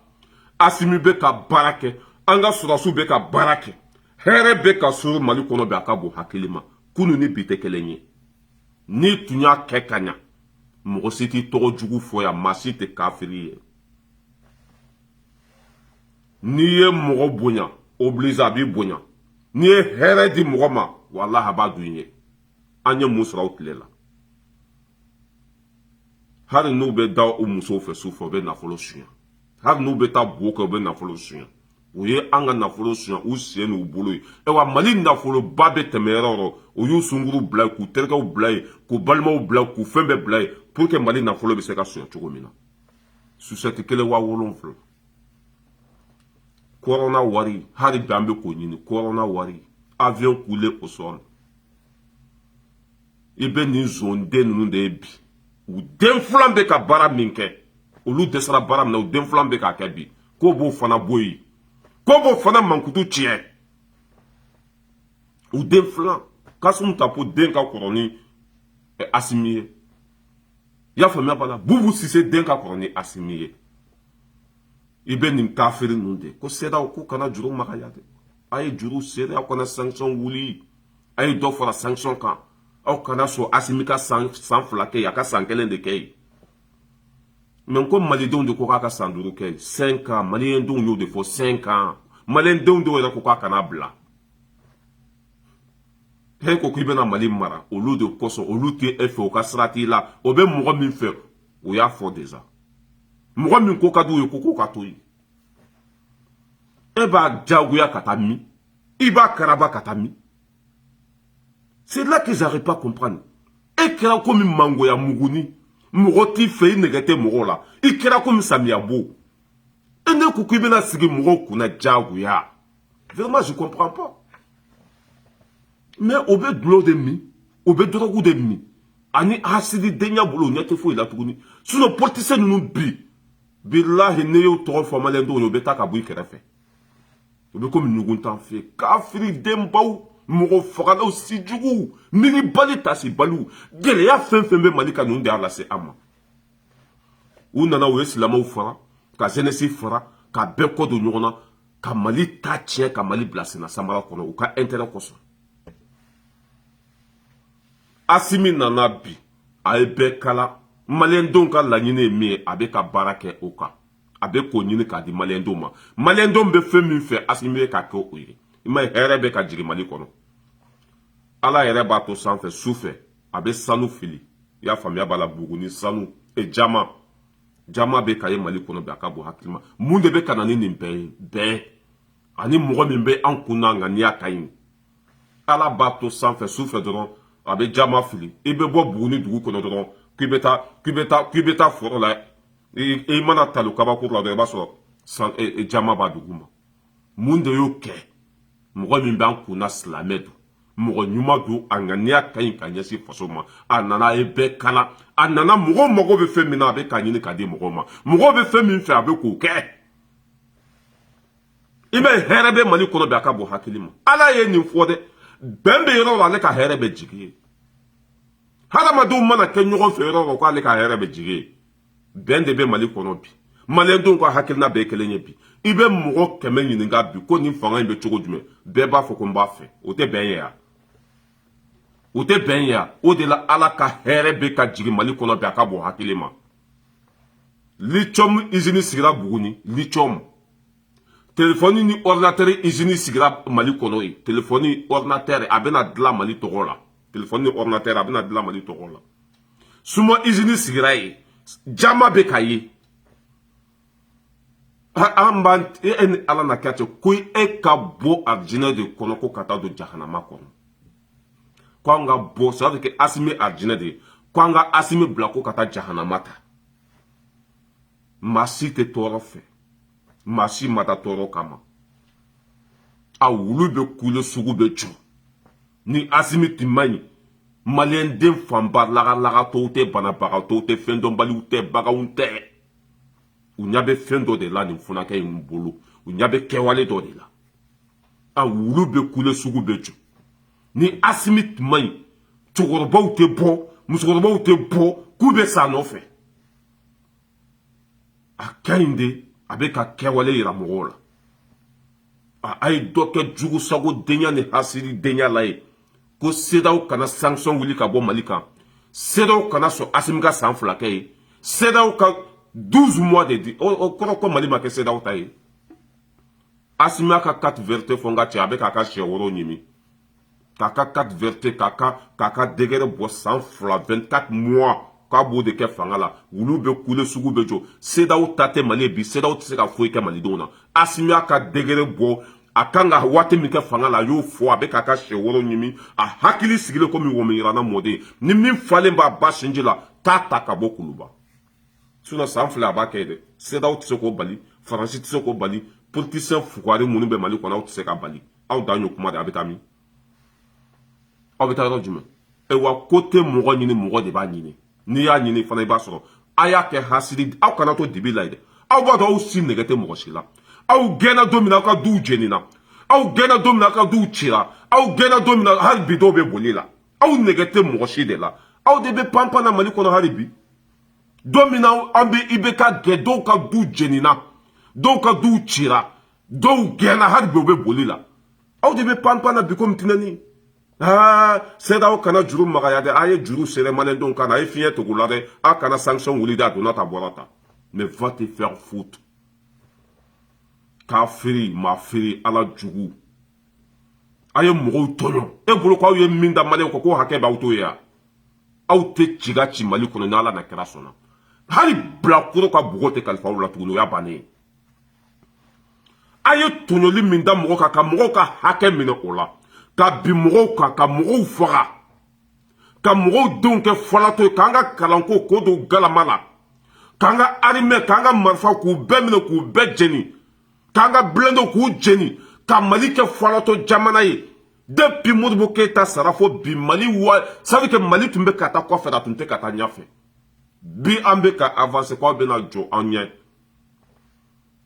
[SPEAKER 1] asimi bɛ ka baara kɛ an ka sɔrɔdasiw bɛ ka baara kɛ hɛrɛ bɛ ka sɔrɔ mali kɔnɔ bɛ a k'a bɔ hakili ma kunu ni bi tɛ kelen ye n'i tun y'a kɛ ka ɲa mɔgɔ si t'i tɔgɔ jugu fɔ yan maa si tɛ kafiri ye n'i ye mɔgɔ bonya oblige a b'i bonya n'i ye hɛrɛ di mɔgɔ ma walahi a b'a dun ye an ye mun sɔrɔ o tile la hali n'u bɛ da u musow fɛ su fɛ u bɛ nafolo sunya hali n'u bɛ taa bo kɛ u bɛ nafolo sunya u ye an ka nafolo sunya u sen n'u bolo ye ayiwa mali nafoloba bɛ tɛmɛ yɔrɔ o yɔrɔ u y'u sungurun bila k'u terikɛw bila yen k'u balimaw bila k'u fɛn bɛɛ bila yen pour que mali nafolo bɛ se ka sunya cogo min na sosɛti kelen waa wolonfila kɔrɔna wari hali bi an bɛ k'o ɲini kɔrɔna wari avion cloué au sol i bɛ nin zonden ninnu de ye bi u den filan bɛ ka baara min kɛ olu dɛsɛra baara min na u den filan bɛ k'a kɛ bi k'o b'o fana bɔ yen k'o b'o fana mankutu tiɲɛ u den filan kasimu tapo den ka kɔrɔ ni eh, asimi ye i y'a faamuya b'a la bubu sise den ka kɔrɔ ni asimi ye i bɛ nin kafiri ninnu de ko sedaw k'u kana juru magaya dɛ a ye juru sɛrɛ aw kana sanction wuli a ye dɔ fara sanction kan aw kana sɔn asimi ka san san fila kɛ yen a ka san kelen de kɛ yen mais ko malidenw de ko k'a ka san duuru kɛ yen cinq ans malidenw y'o de fɔ cinq ans malidenw dɔw yɛrɛ ko k'a kana bila e ko k'i bɛna mali mara olu de kosɔn olu tɛ e fɛ u ka sira t'i la o bɛ mɔgɔ min fɛ o y'a fɔ déjà mɔgɔ min ko ka d'u ye ko k'o ka to yen e b'a jagoya ka taa min i b'a karaba ka taa min c'est là qu'ils arrivent pas comprendre e kɛra komi mangoya muguni mɔgɔ t'i fɛ i nɛgɛ tɛ mɔgɔw la i kɛra komi samiya bo e ne ko k'i bɛna sigi mɔgɔw kunna jagoya vraiment je comprends pas mais o bɛ dɔlɔ de min o bɛ dɔrɔgu de min ani hasididenya b'o la o ɲɛ tɛ foyi la tuguni sinon politisiyɛn ninnu bi bilahi n'i y'o tɔgɔ fɔ maliyɛn dɔw ye u bɛ taa ka bɔ i kɛrɛfɛ u bɛ komi ɲugun t'an fɛ yen kafiri denbaw mɔgɔ fagalaw sijuguw miiribali tasibaliw gɛlɛya fɛn fɛn bɛ mali kan ninnu de y'a lase an ma u nana u ye silamɛw fara ka zenesi fara ka bɛɛ kɔ don ɲɔgɔn na ka mali ta tiɲɛ ka mali bila senna samara kɔnɔ u ka intérêt kosɔn asimi nana bi a ye bɛɛ kala maliyɛndenw ka laɲini ye min ye a bɛ ka baara kɛ o kan a bɛ k'o ɲini k'a di maliyɛndenw ma maliyɛndenw bɛ fɛn min fɛ asimi bɛ k'a kɛ o ye i m'a ye hɛrɛ bɛ ka jigin mali kɔnɔ ala yɛrɛ b'a to sanfɛ su fɛ a bɛ sanu fili i y'a faamuya b'a la buguni sanu e jaman jaman bɛ ka ye mali kɔnɔ bi a ka bon hakili ma mun de bɛ ka na ni nin bɛɛ ye bɛn ani mɔgɔ min bɛ an kun na a ŋaniya ka ɲi ala b'a to sanfɛ su fɛ dɔrɔn a bɛ jaman fili i bɛ bɔ buguni dugu kɔnɔ dɔrɔn k'i bɛ taa k'i bɛ taa k'i bɛ taa foro la i mana talo kabakuru la dɔrɔn i b'a sɔrɔ san e, e, jaman b'a duguma mun de y'o kɛ mɔgɔ min b'an kunna silamɛ don mɔgɔ ɲuman don a ŋaniya ka ɲi ka ɲɛsin faso ma a nana a ye bɛɛ kala a nana mɔgɔ mago bɛ fɛn min na a bɛ k'a ɲini k'a di mɔgɔw ma mɔgɔw bɛ fɛn min fɛ a bɛ k'o kɛ i bɛ hɛrɛ bɛ mali kɔnɔ bi a ka bon hakili ma ala ye nin fɔ dɛ bɛn bɛ yɔrɔ la ale ka hɛrɛ bɛ jigin yen hadamadenw mana kɛ ɲɔgɔn fɛ yɔrɔ la ko ale ka hɛrɛ bɛ jigin yen bɛn de bɛ mali kɔnɔ bi maliyɛndenw ka hakilina bɛɛ kelen ye bi i bɛ mɔgɔ kɛmɛ ɲininka bi ko nin fanga in bɛ cogo jumɛn bɛɛ b'a fɔ ko n b'a fɛ o tɛ bɛn ye yan o tɛ bɛn ye o de la ala ka hɛrɛ bɛ ka jigin mali kɔnɔ bi a ka bon hakili ma lithium izini sigira buguni lithium telefɔni ni ɔridinatɛri izini sigira mali kɔnɔ yen telefɔni ɔridinatɛri a bɛna dilan mali tɔgɔ la telefɔni ni ɔridinatɛri a bɛna dilan mali tɔgɔ la siman izini sigira yen jama bɛ k'a ye an b'an e, e ni ala na kɛ cɛ ko e ka bɔ arijinɛ de kɔnɔ ko ka taa don jahanama kɔnɔ ko an ka bɔ c'est-à-dire que asimi arijinɛ de ye ko an ka asimi bila ko ka taa jahanama ta maa si tɛ tɔɔrɔ fɛ maa si ma da tɔɔrɔ kama a wulu bɛ kule sugu bɛ jɔ ni asimi tun man ɲi maliyɛnden fanba lagalagatɔw tɛ banabagatɔw tɛ fɛn dɔnbaliw tɛ baganw tɛ u ɲɛ bɛ fɛn dɔ de la nin funakɛ in bolo u ɲɛ bɛ kɛwale dɔ de la a wulu bɛ kule sugu bɛ jɔ ni asimi tun man ɲi cɛkɔrɔbaw tɛ bɔ musokɔrɔbaw tɛ bɔ k'u bɛ s'a nɔfɛ a ka ɲi de a bɛ ka kɛwale yira mɔgɔw la a ye dɔ kɛ jugu sago denya ni hasiri denya la ye ko sedaw kana sanction wuli ka bɔ mali kan sedaw kana sɔn asimi ka san fila kɛ ye sedaw ka 12 mois de di o kɔrɔ ko mali ma kɛ sedaw ta ye asimi ka 4 vérités fɔ n ka cɛ a bɛ k'a ka sɛ woro ɲimi k'a ka 4 vérités k'a ka k'a ka décret bɔ san fila 24 mois k'a b'o de kɛ fanga la wulu bɛ kule sugu bɛ jɔ sedaw ta tɛ mali ye bi sedaw tɛ se ka foyi kɛ malidenw na asimi y'a ka décret bɔ a kan ka waati min kɛ fanga la a y'o fɔ a bɛ k'a ka sɛ woro ɲimi a hakili sigilen komi wɔmiyirana mɔden ni min falen b'a ba sinji la t'a ta ka bɔ kuluba sinɔn san fila a b'a kɛ dɛ sedaw tɛ se k'o bali faransi tɛ se k'o bali politisiyɛn fugari minnu bɛ mali kɔnɔ aw tɛ se k'a bali aw dan y'o kuma de aw bɛ taa min aw bɛ taa yɔrɔ jumɛn ayiwa ko tɛ mɔgɔ ɲini mɔgɔ de b'a ɲini n'i y'a ɲini fana i b'a sɔrɔ a y'a kɛ hasidi aw kana to dibi la ye dɛ aw b'a dɔn aw si nɛgɛ tɛ mɔgɔ si la aw gɛnna don min na aw ka duw jenina aw gɛnna don min na aw ka duw cira aw gɛnna don min na hali bi dɔw bɛ boli la aw nɛgɛ tɛ mɔgɔ si de la aw de bɛ panpan na mali kɔnɔ hali bi don min n'i bɛ ka gɛn dɔw ka du jenina dɔw ka duw cira dɔw gɛnna hali bi u bɛ boli la aw de bɛ panpan na bi komi tinɛni aa sedaw kana juru magaya dɛ a ye juru sere maliyɛndenw kan na a ye fiɲɛ tugu la dɛ a kana sanction wuli dɛ a donna ta bɔra ta mais va te faire foutre kafiri maa firi ala jugu aw ye mɔgɔw tɔɲɔ e bolo ko aw ye min da maliyɛnw kɔ k'o hakɛ b'aw to yen wa aw tɛ ci ka ci mali kɔnɔ ni ala ni kira sɔnna hali bilakoro ka npogo tɛ kalifa aw la tuguni o y'a bannen ye a ye tɔɲɔli min da mɔgɔ kan ka mɔgɔw ka hakɛ minɛ o la ka bin mɔgɔw kan ka mɔgɔw faga ka mɔgɔw denw kɛ falatɔ ye k'an ka kalanko k'o don galama la k'an ka arimɛ k'an ka marifa k'u bɛɛ minɛ k'u bɛɛ jeni k'an ka bilɛnde k'u jeni ka mali kɛ falatɔ jamana ye depuis modibo keyita sara fo bi mali wa c'est-à-dire que mali tun bɛ ka taa kɔfɛ a tun tɛ ka taa ɲɛfɛ bi an bɛ ka avanse k'aw bɛna jɔ an ɲɛ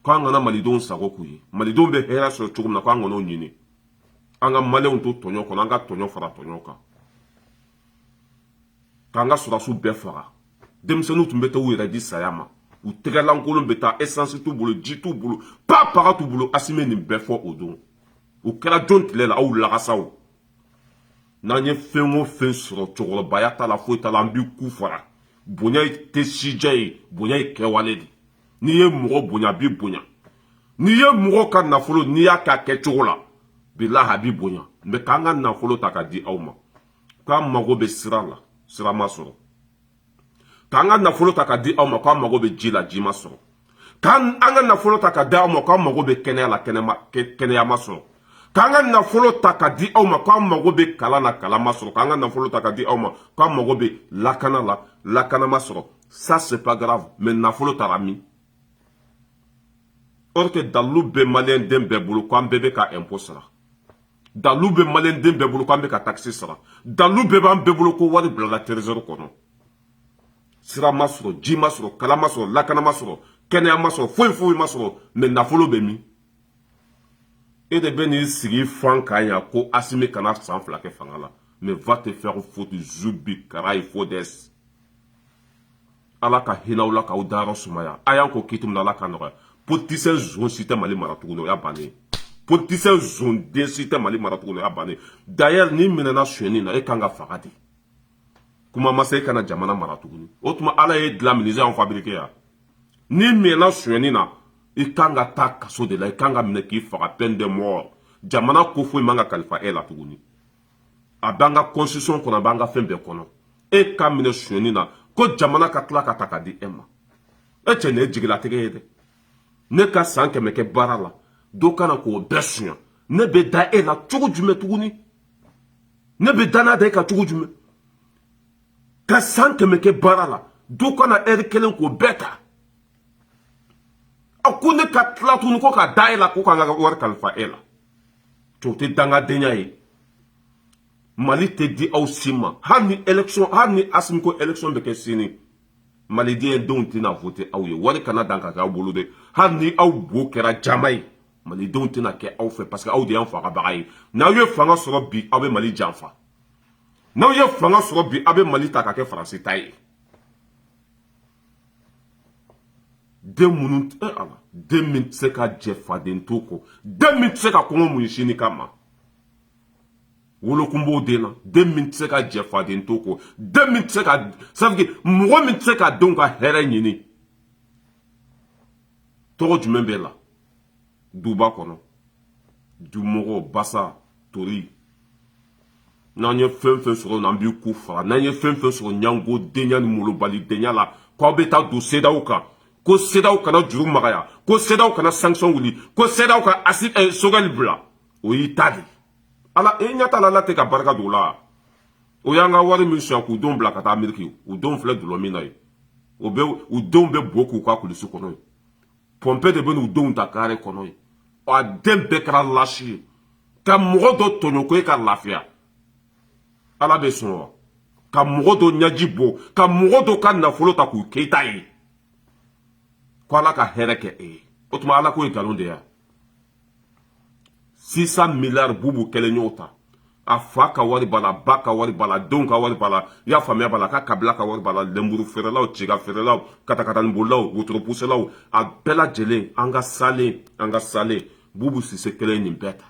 [SPEAKER 1] k'an kana malidenw sago k'u ye malidenw bɛ hɛrɛ sɔrɔ cogo min na k'an kan'o ɲini an ka maliyɛnw to tɔɲɔ kɔnɔ an ka tɔɲɔ fara tɔɲɔ kan k'an ka sɔrɔdasiw bɛɛ faga denmisɛnninw tun bɛ taa u yɛrɛ di saya ma u tɛgɛlankolon bɛ taa esansi t'u bolo ji t'u bolo pa paga t'u bolo asimi ye nin bɛɛ fɔ o don o kɛra jɔn tile la aw lagasaw n'an ye fɛn o fɛn sɔrɔ cɛkɔrɔbaya t'a la foyi t'a la an b'i ku fara bonya tɛ sijan ye bonya ye kɛwale de n'i ye mɔgɔ bonya a b'i bonya n'i ye mɔgɔ ka nafolo n'i y'a k'a kɛcogo la bilahi a b'i bonya mais k'an ka nafolo ta ka di aw ma k'an mago bɛ sira la sira ma sɔrɔ k'an ka nafolo ta ka di aw ma k'an mago bɛ ji la ji ma sɔrɔ k'an an ka nafolo ta ka di aw ma k'an mago bɛ kɛnɛya la kɛnɛya ma sɔrɔ k'an ka nafolo ta ka di aw ma k'an mago bɛ kalan na kalan ma sɔrɔ k'an ka nafolo ta ka di aw ma k'an mago bɛ lakana la lakana ma sɔrɔ ça c'est pas grave mais nafolo taara min or que dalu bɛ maliyɛn den bɛɛ bolo k'an bɛɛ bɛ ka impôt sara dalu bɛ maliyɛn den bɛɛ bolo k'an bɛ ka taxe sara dalu b'an bɛɛ bolo ko wari bilala trésor kɔnɔ sira ma sɔrɔ ji ma sɔrɔ kalan ma sɔrɔ lakana ma sɔrɔ kɛnɛya ma sɔrɔ foyi foyi ma sɔrɔ mais nafolo bɛ min e de bɛ n'i sigi fan kan yan ko asimi kana san fila kɛ fanga la mais va te faire foutre zubi kara il faut des ala ka hinɛ aw la k'aw dayɔrɔ sumaya a y'an ko kitum na ala ka nɔgɔya politisɛn zon si tɛ mali mara tuguni o y'a bannen politisɛn zon den si tɛ mali mara tuguni o y'a bannen d'ailleurs n'i minɛna sonyɛni na e kan ka faga de kuma ma se e kana jamana mara tuguni o tuma ala y'e dilan minisiye y'anw fabrike wa n'i minɛna sonyɛni na i kan ka taa kaso de la i kan ka minɛ k'i faga peine de mort jamana ko foyi man kan ka kalifa e la tuguni a b'an ka constitution kɔnɔ a b'an ka fɛn bɛɛ kɔnɔ e ka minɛ sonyani na ko jamana ka tila ka ta ka di e ma e cɛ nin ye jigilatigɛ ye dɛ ne ka san kɛmɛ kɛ baara la dɔ ka na k'o bɛɛ sonya ne bɛ da e la cogo jumɛn tuguni ne bɛ danaya da e kan cogo jumɛn ka san kɛmɛ kɛ baara la dɔ ka na ɛri kelen k'o bɛɛ ta a ko ne ka tila tuguni ko ka da e la ko k'an ka wari kalifa e la o tɛ dangadenya ye mali tɛ di aw si ma hali ni election hali ni asimi ko election bɛ kɛ sini maliden denw tɛna vote aw ye wari kana dan ka kɛ aw bolo dɛ hali ni aw bo kɛra jaman ye malidenw tɛna kɛ aw fɛ parce que aw de y'an fagabaga ye n'aw ye fanga sɔrɔ bi aw bɛ mali janfa n'aw ye fanga sɔrɔ bi aw bɛ mali ta ka kɛ faransi ta ye den minnu e ala den min tɛ se ka jɛ faden to kɔ den min tɛ se ka kɔngɔ muɲu sini kama wolokun b'o den na den min tɛ se ka jɛ faden to kɔ den min tɛ se ka safike mɔgɔ min tɛ se ka denw ka hɛrɛ ɲini tɔgɔ jumɛn b'e la duba kɔnɔ dumɔgɔ basa tori n'an ye fɛn fɛn sɔrɔ n'an b'i ku fara n'an ye fɛn fɛn sɔrɔ ɲango denya ni malobalidenya la ko aw bɛ taa don cedeao kan ko cedeao ka na juru magaya ko cedeao ka na sanction wuli ko cedeao ka asi eh, sogɛli bila o y'i ta de ala e ɲɛ t'a la ala tɛ ka barika don o la o y'an ka wari min suɲɛ k'u denw bila ka taa ameriki u denw filɛ dulɔ min na yen o bɛ u denw bɛ bo k'u ka kulusi kɔnɔ yen pompier de bɛ n'u denw ta kare kɔnɔ yen a den bɛɛ kɛra lasi ye ka mɔgɔ dɔ tɔɲɔ ko e ka lafiya ala bɛ sɔn wa ka mɔgɔ dɔ ɲɛji bɔ ka mɔgɔ dɔ ka nafolo ta k'o kɛ i ta ye ko ala ka hɛrɛ kɛ e ye o tuma ala ko ye nkalon de ya six cent milliards bubu kelen y'o ta a fa ka wari b'a la ba ka wari b'a la denw ka wari b'a la i ka famille b'a la ka kabila ka wari b'a la lenburu feerelaw ciga feerelaw katakatanibolilaw wotoropuselaw a bɛɛ lajɛlen an ka salen an ka salen bubu sise kelen nin bɛɛ ta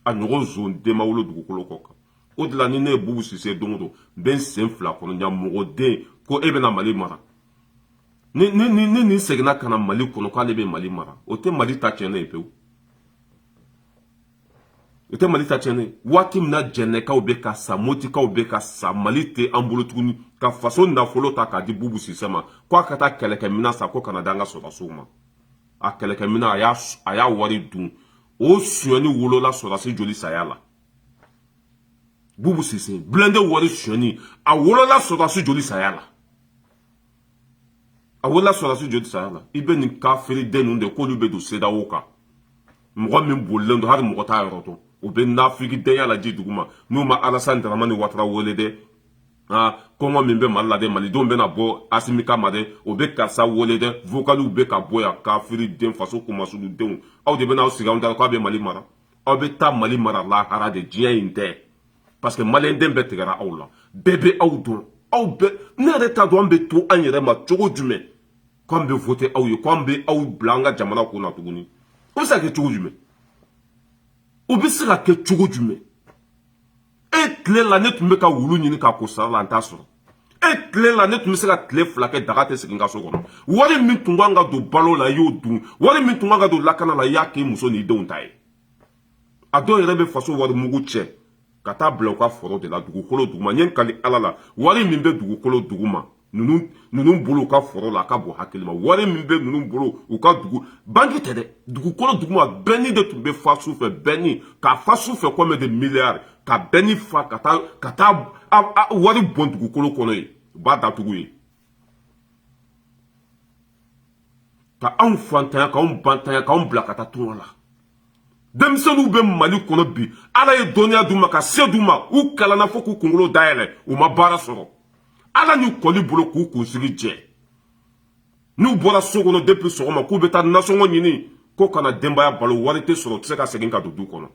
[SPEAKER 1] a ɲɔgɔn zon den ma wolo dugukolo kɔ kan o de la ni ne ye bubu sise don o don n bɛ n sen fila kɔnɔ ɲamɔgɔden ko e bɛna mali mara ni ni ni ni nin seginna ka na mali kɔnɔ k'ale bɛ mali mara o tɛ mali ta tiɲɛnen ye pewu o tɛ mali ta tiɲɛnen ye waati min na jɛnɛkaw bɛ ka sa motikaw bɛ ka sa mali tɛ an bolo tuguni ka faso nafolo ta k'a di bubu sise ma ko a ka taa kɛlɛkɛminɛn san ko ka na di an ka sɔrɔdasiw ma a kɛlɛkɛminɛn a y'a a y'a wari dun o sonyɛni wolola sɔrɔdasi joli saya la bubu sise blindé wari sonyɛni a wolola sɔrɔdasi joli saya la a wulila sɔrɔdasi joli sara la i bɛ nin kafiri den ninnu de k'olu bɛ don sedawo kan mɔgɔ min bolilen don hali mɔgɔ t'a yɔrɔ dɔn u bɛ nafiki denya la ji duguma n'u ma alasan daramani watara wele dɛ aa kɔngɔ min bɛ mali la dɛ malidenw bɛna bɔ asimi kama dɛ o bɛ karisa wele dɛ vokaliw bɛ ka bɔ yan kafiri den faso kumasugudenw aw de bɛna aw sigi anw da k'aw bɛ mali mara aw bɛ taa mali mara lahara de diɲɛ in tɛ parce que maliyɛnden bɛɛ tigɛra aw la bɛɛ bɛ aw dɔn aw bɛɛ ne yɛrɛ t'a dɔn an bɛ to an yɛrɛ ma cogo jumɛn k'an bɛ vote aw ye k'an bɛ aw bila an ka jamana ko la tuguni o bɛ se ka kɛ cogo jumɛn o bɛ se ka kɛ cogo jumɛn e tile la ne tun bɛ ka wulu ɲini k'a ko sara la n t'a sɔrɔ e tile la ne tun bɛ se ka tile fila kɛ daga tɛ sigi n ka so kɔnɔ wari min tun kan ka don balo la i y'o dun wari min tun kan ka don lakana la i y'a k'i muso n'i denw ta ye a dɔw yɛrɛ bɛ faso wari mugu cɛ ka taa bila u ka foro de la dugukolo duguma n ye n kali ala la wari min bɛ dugukolo duguma ninnu ninnu bolo u ka foro la a ka bon hakili ma wari min bɛ ninnu bolo u ka dugu banki tɛ dɛ dugukolo duguma bɛnni de tun bɛ fa su fɛ bɛnni k'a fa su fɛ kɔmɛ de miliyari ka bɛnni fa ka taa ka taa wari bɔn dugukolo kɔnɔ ye u b'a datugu ye ka anw fantanya k'anw bantanya k'anw bila ka taa tunga la denmisɛnninw bɛ mali kɔnɔ bi ala ye dɔnniya d'u ma ka se d'u ma u kalanna fo k'u kunkolo dayɛlɛ u ma baara sɔrɔ ala ni kɔli bolo k'u kunsigi jɛ n'u bɔra so kɔnɔ depuis sɔgɔma k'u bɛ taa nasɔngɔ ɲini ko ka na denbaya balo wari tɛ sɔrɔ tɛ se ka segin ka don du kɔnɔ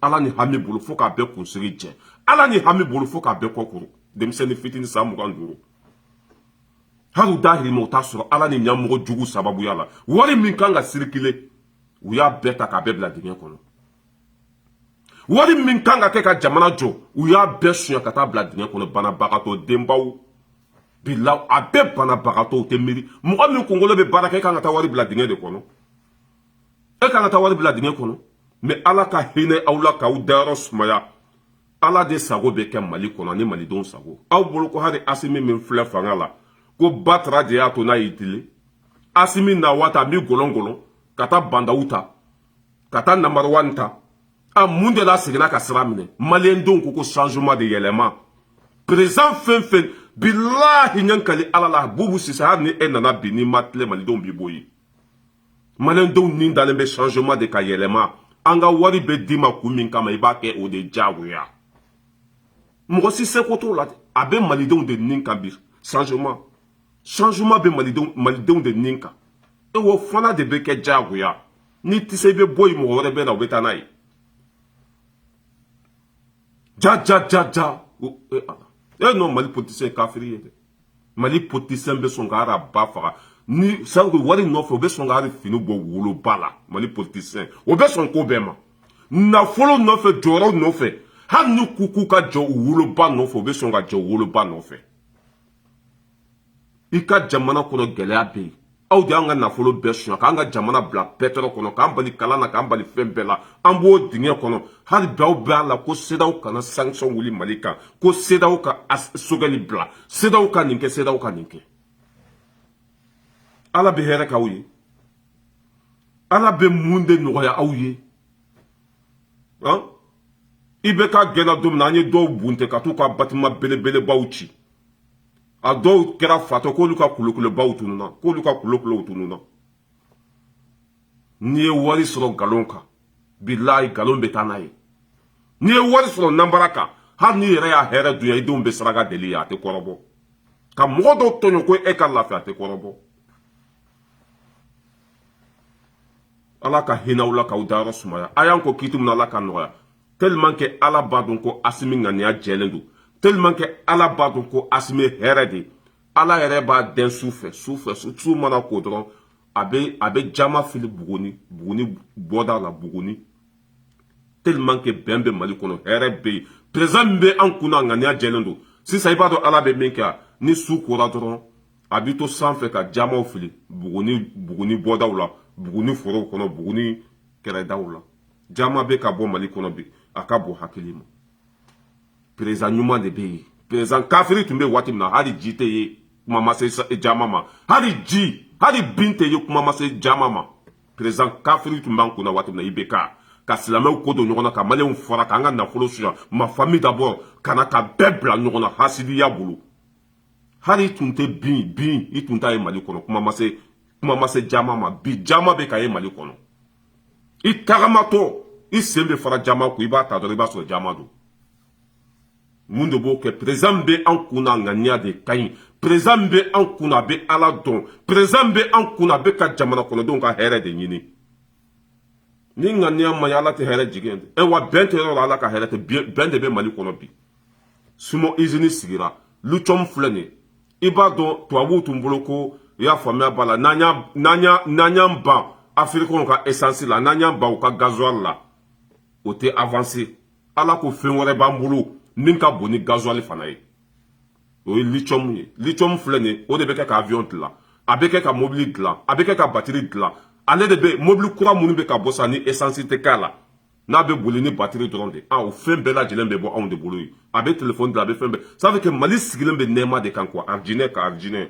[SPEAKER 1] ala ni hami bolo fo k'a bɛɛ kunsigi jɛ ala ni hami bolo fo k'a bɛɛ kɔ kuru denmisɛnnin fitini san mugan duuru hali u dahirimɛ u t'a sɔrɔ ala ni ɲɛmɔgɔ juguw sababuya la wari min kan ka sirikile u y'a bɛɛ ta k'a bɛɛ bila dingɛ kɔnɔ wari min kan ka kɛ ka jamana jɔ u y'a bɛɛ suɲɛ ka taa bila dingɛ kɔnɔ banabagatɔ denbaw bila a bɛɛ banabagatɔw tɛ miiri mɔgɔ min kunkolo bɛ baara kɛ e kan ka taa wari bila dingɛ de kɔnɔ e kan ka taa wari bila dingɛ kɔnɔ mais ala ka hinɛ aw la k'aw dayɔrɔ sumaya ala de sago bɛ kɛ mali kɔnɔ ni malidenw sago aw bolo ko hali asimi min filɛ fanga la ko batara de y'a to n'a y'i dili asimi na waati a b'i gɔlɔn gɔlɔn ka taa ba ndaw ta ka taa namariwani ta a mun de la seginna ka sira minɛ maliyɛndenw ko ko changement de yɛlɛma perezan fɛn fɛn bilahi n ye n kali ala la bubu sise hali ni e nana bi n'i ma tilen malidenw b'i bɔ yen maliyɛndenw ni dalen bɛ changement de kan yɛlɛma an ka wari bɛ d'i ma kun min kama i b'a kɛ o de diyagoya mɔgɔ si seko t'o la a bɛ malidenw de nin kan bi changement changement bɛ malidenw malidenw de nin kan e o fana de bɛ kɛ diyagoya n'i tɛ se i bɛ bɔ yen mɔgɔ wɛrɛ bɛ na o bɛ taa n'a ye ja ja ja ja e nɔ mali politisiyɛn kafiri ye dɛ mali politisiyɛn bɛ sɔn ka hali a ba faga ni sanko wari nɔfɛ u bɛ sɔn ka hali fini bɔ woloba la mali politisiyɛn o bɛ sɔn ko bɛɛ ma nafolo nɔfɛ jɔyɔrɔ nɔfɛ hali ni k'u k'u ka jɛ u woloba nɔfɛ u bɛ sɔn ka jɛ u woloba nɔfɛ i ka jamana kɔnɔ gɛlɛya bɛ yen aw de y'an ka nafolo bɛɛ suɲa k'an ka jamana bila pétrin kɔnɔ k'an bali kalan na k'an bali fɛn bɛɛ la an b'o dingɛ kɔnɔ hali bi aw bɛ a la ko sedaw kana sanction wuli mali kan ko sedaw ka sogɛli bila sedaw ka nin kɛ sedaw ka nin kɛ ala bɛ hɛrɛ k'aw ye ala bɛ mun de nɔgɔya aw ye han ibk gɛnna don min na an ye dɔw bunte ka t'u ka batima belebelebaw ci a dɔw kɛra fatɔ k'olu ka kulukolobaw tununna k'olu ka kulukolow tununna n'i ye wari sɔrɔ nkalon kan bilayi nkalon bɛ taa n'a ye n'i ye wari sɔrɔ nanbara kan hali n'i yɛrɛ y'a hɛrɛ dun yan i denw bɛ saraka deli a tɛ kɔrɔbɔ ka mɔgɔ dɔw tɔɲɔ ko e ka lafiya a tɛ kɔrɔbɔ ala ka hinɛ a la k'a dayɔrɔ sumaya a y'an kɔn kiti min ala k'a nɔgɔya tellement que ala b'a dɔn ko asimi ŋaniya jɛlen don tellement que ala b'a dɔn ko asimi ye hɛrɛ de ala yɛrɛ b'a dɛn su fɛ su fɛ su mana ko dɔrɔn a bɛ a bɛ jaman fili buguni buguni bɔda la buguni tellement que bɛn bɛ mali kɔnɔ hɛrɛ bɛ yen président min bɛ an kun na ŋaniya jɛlen don sisan i b'a dɔn ala bɛ min kɛ ni su kora dɔrɔn a bɛ to sanfɛ ka jamanw fili buguni buguni bɔdaw la buguni forow kɔnɔ buguni kɛrɛdaw la jaman bɛ ka bɔ mali kɔnɔ bi a ka bon hakili ma perezan ɲuman de bɛ yen perezan kafiri tun bɛ waati min na hali ji tɛ ye kuma ma se jaman ma hali ji hali bin tɛ ye kuma ma se jaman ma perezan kafiri tun b'an kunna waati min na ibk ka silamɛw kɔ don ɲɔgɔn na ka maliyɛnw fara k'an ka nafolo suɲa ma famille d'abord ka na ka bɛɛ bila ɲɔgɔn na hasidiya bolo hali i tun tɛ bin bin i tun t'a ye mali kɔnɔ kuma ma se kuma ma se jaman ma bi jaman bɛ ka ye mali kɔnɔ i tagamatɔ i sen bɛ fara jaman ko i b'a ta dɔrɔn i b'a sɔrɔ jaman don mun de b'o kɛ perezan min bɛ an kun na ŋaniya de ka ɲi perezan min bɛ an kun na a bɛ ala dɔn perezan min bɛ an kun na a bɛ ka jamana kɔnɔdenw ka hɛrɛ de ɲini ni ŋaniya man ɲi ala tɛ hɛrɛ jigin ɛ wa bɛn tɛ yɔrɔ la ala ka hɛrɛ tɛ bɛn de bɛ mali kɔnɔ bi siman izini sigira litiyɔmu filɛ nin ye i b'a dɔn tubabuw tun bolo ko u y'a faamuya b'a la n'an y'an ban afirikɛnw ka esansi la n'an y'an ban u ka gazuwali la o tɛ avanse ala ko fɛn wɛrɛ b'an bolo min ka bon ni gazuwali fana ye o ye litiyɔmu ye litiyɔmu filɛ nin ye o de bɛ kɛ ka aviyɔn dilan a bɛ kɛ ka mobili dilan a bɛ kɛ ka batiri dilan ale de bɛ mobili kura minnu bɛ ka bɔ sa ni esansi tɛ k'a la n'a bɛ boli ni batiri dɔrɔn de a o fɛn bɛɛ lajɛlen bɛ bɔ anw de bolo yen a bɛ telefɔni dilan a bɛ fɛn bɛɛ ça veut que mali sigilen bɛ nɛɛma de kan quoi arijinɛ ka arijinɛ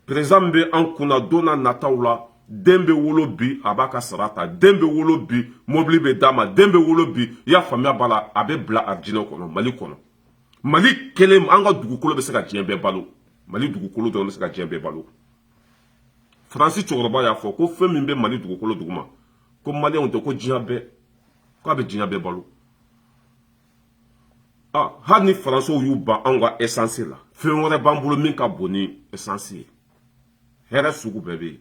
[SPEAKER 1] perezidan min bɛ an kunna don nataw la den bɛ wolo bi a b'a ka sara ta den bɛ wolo bi mobili bɛ d'a ma den bɛ wolo bi i y'a faamuya b'a la a bɛ bila arijinɛ kɔnɔ mali kɔnɔ mali kelen an ka dugukolo bɛ se ka diɲɛ bɛɛ balo mali dugukolo dɔrɔn bɛ se ka diɲɛ bɛɛ balo faransi cɛkɔrɔba y'a fɔ ko fɛn min bɛ mali dugukolo duguma ko maliyɛnw tɛ ko diɲɛ bɛɛ k'a bɛ diɲɛ bɛɛ balo ah, hali ni faransiw y'u ban anw ka esansi la fɛn wɛrɛ b'an bolo min ka bon ni esansi ye hɛrɛ sugu bɛɛ bɛ yen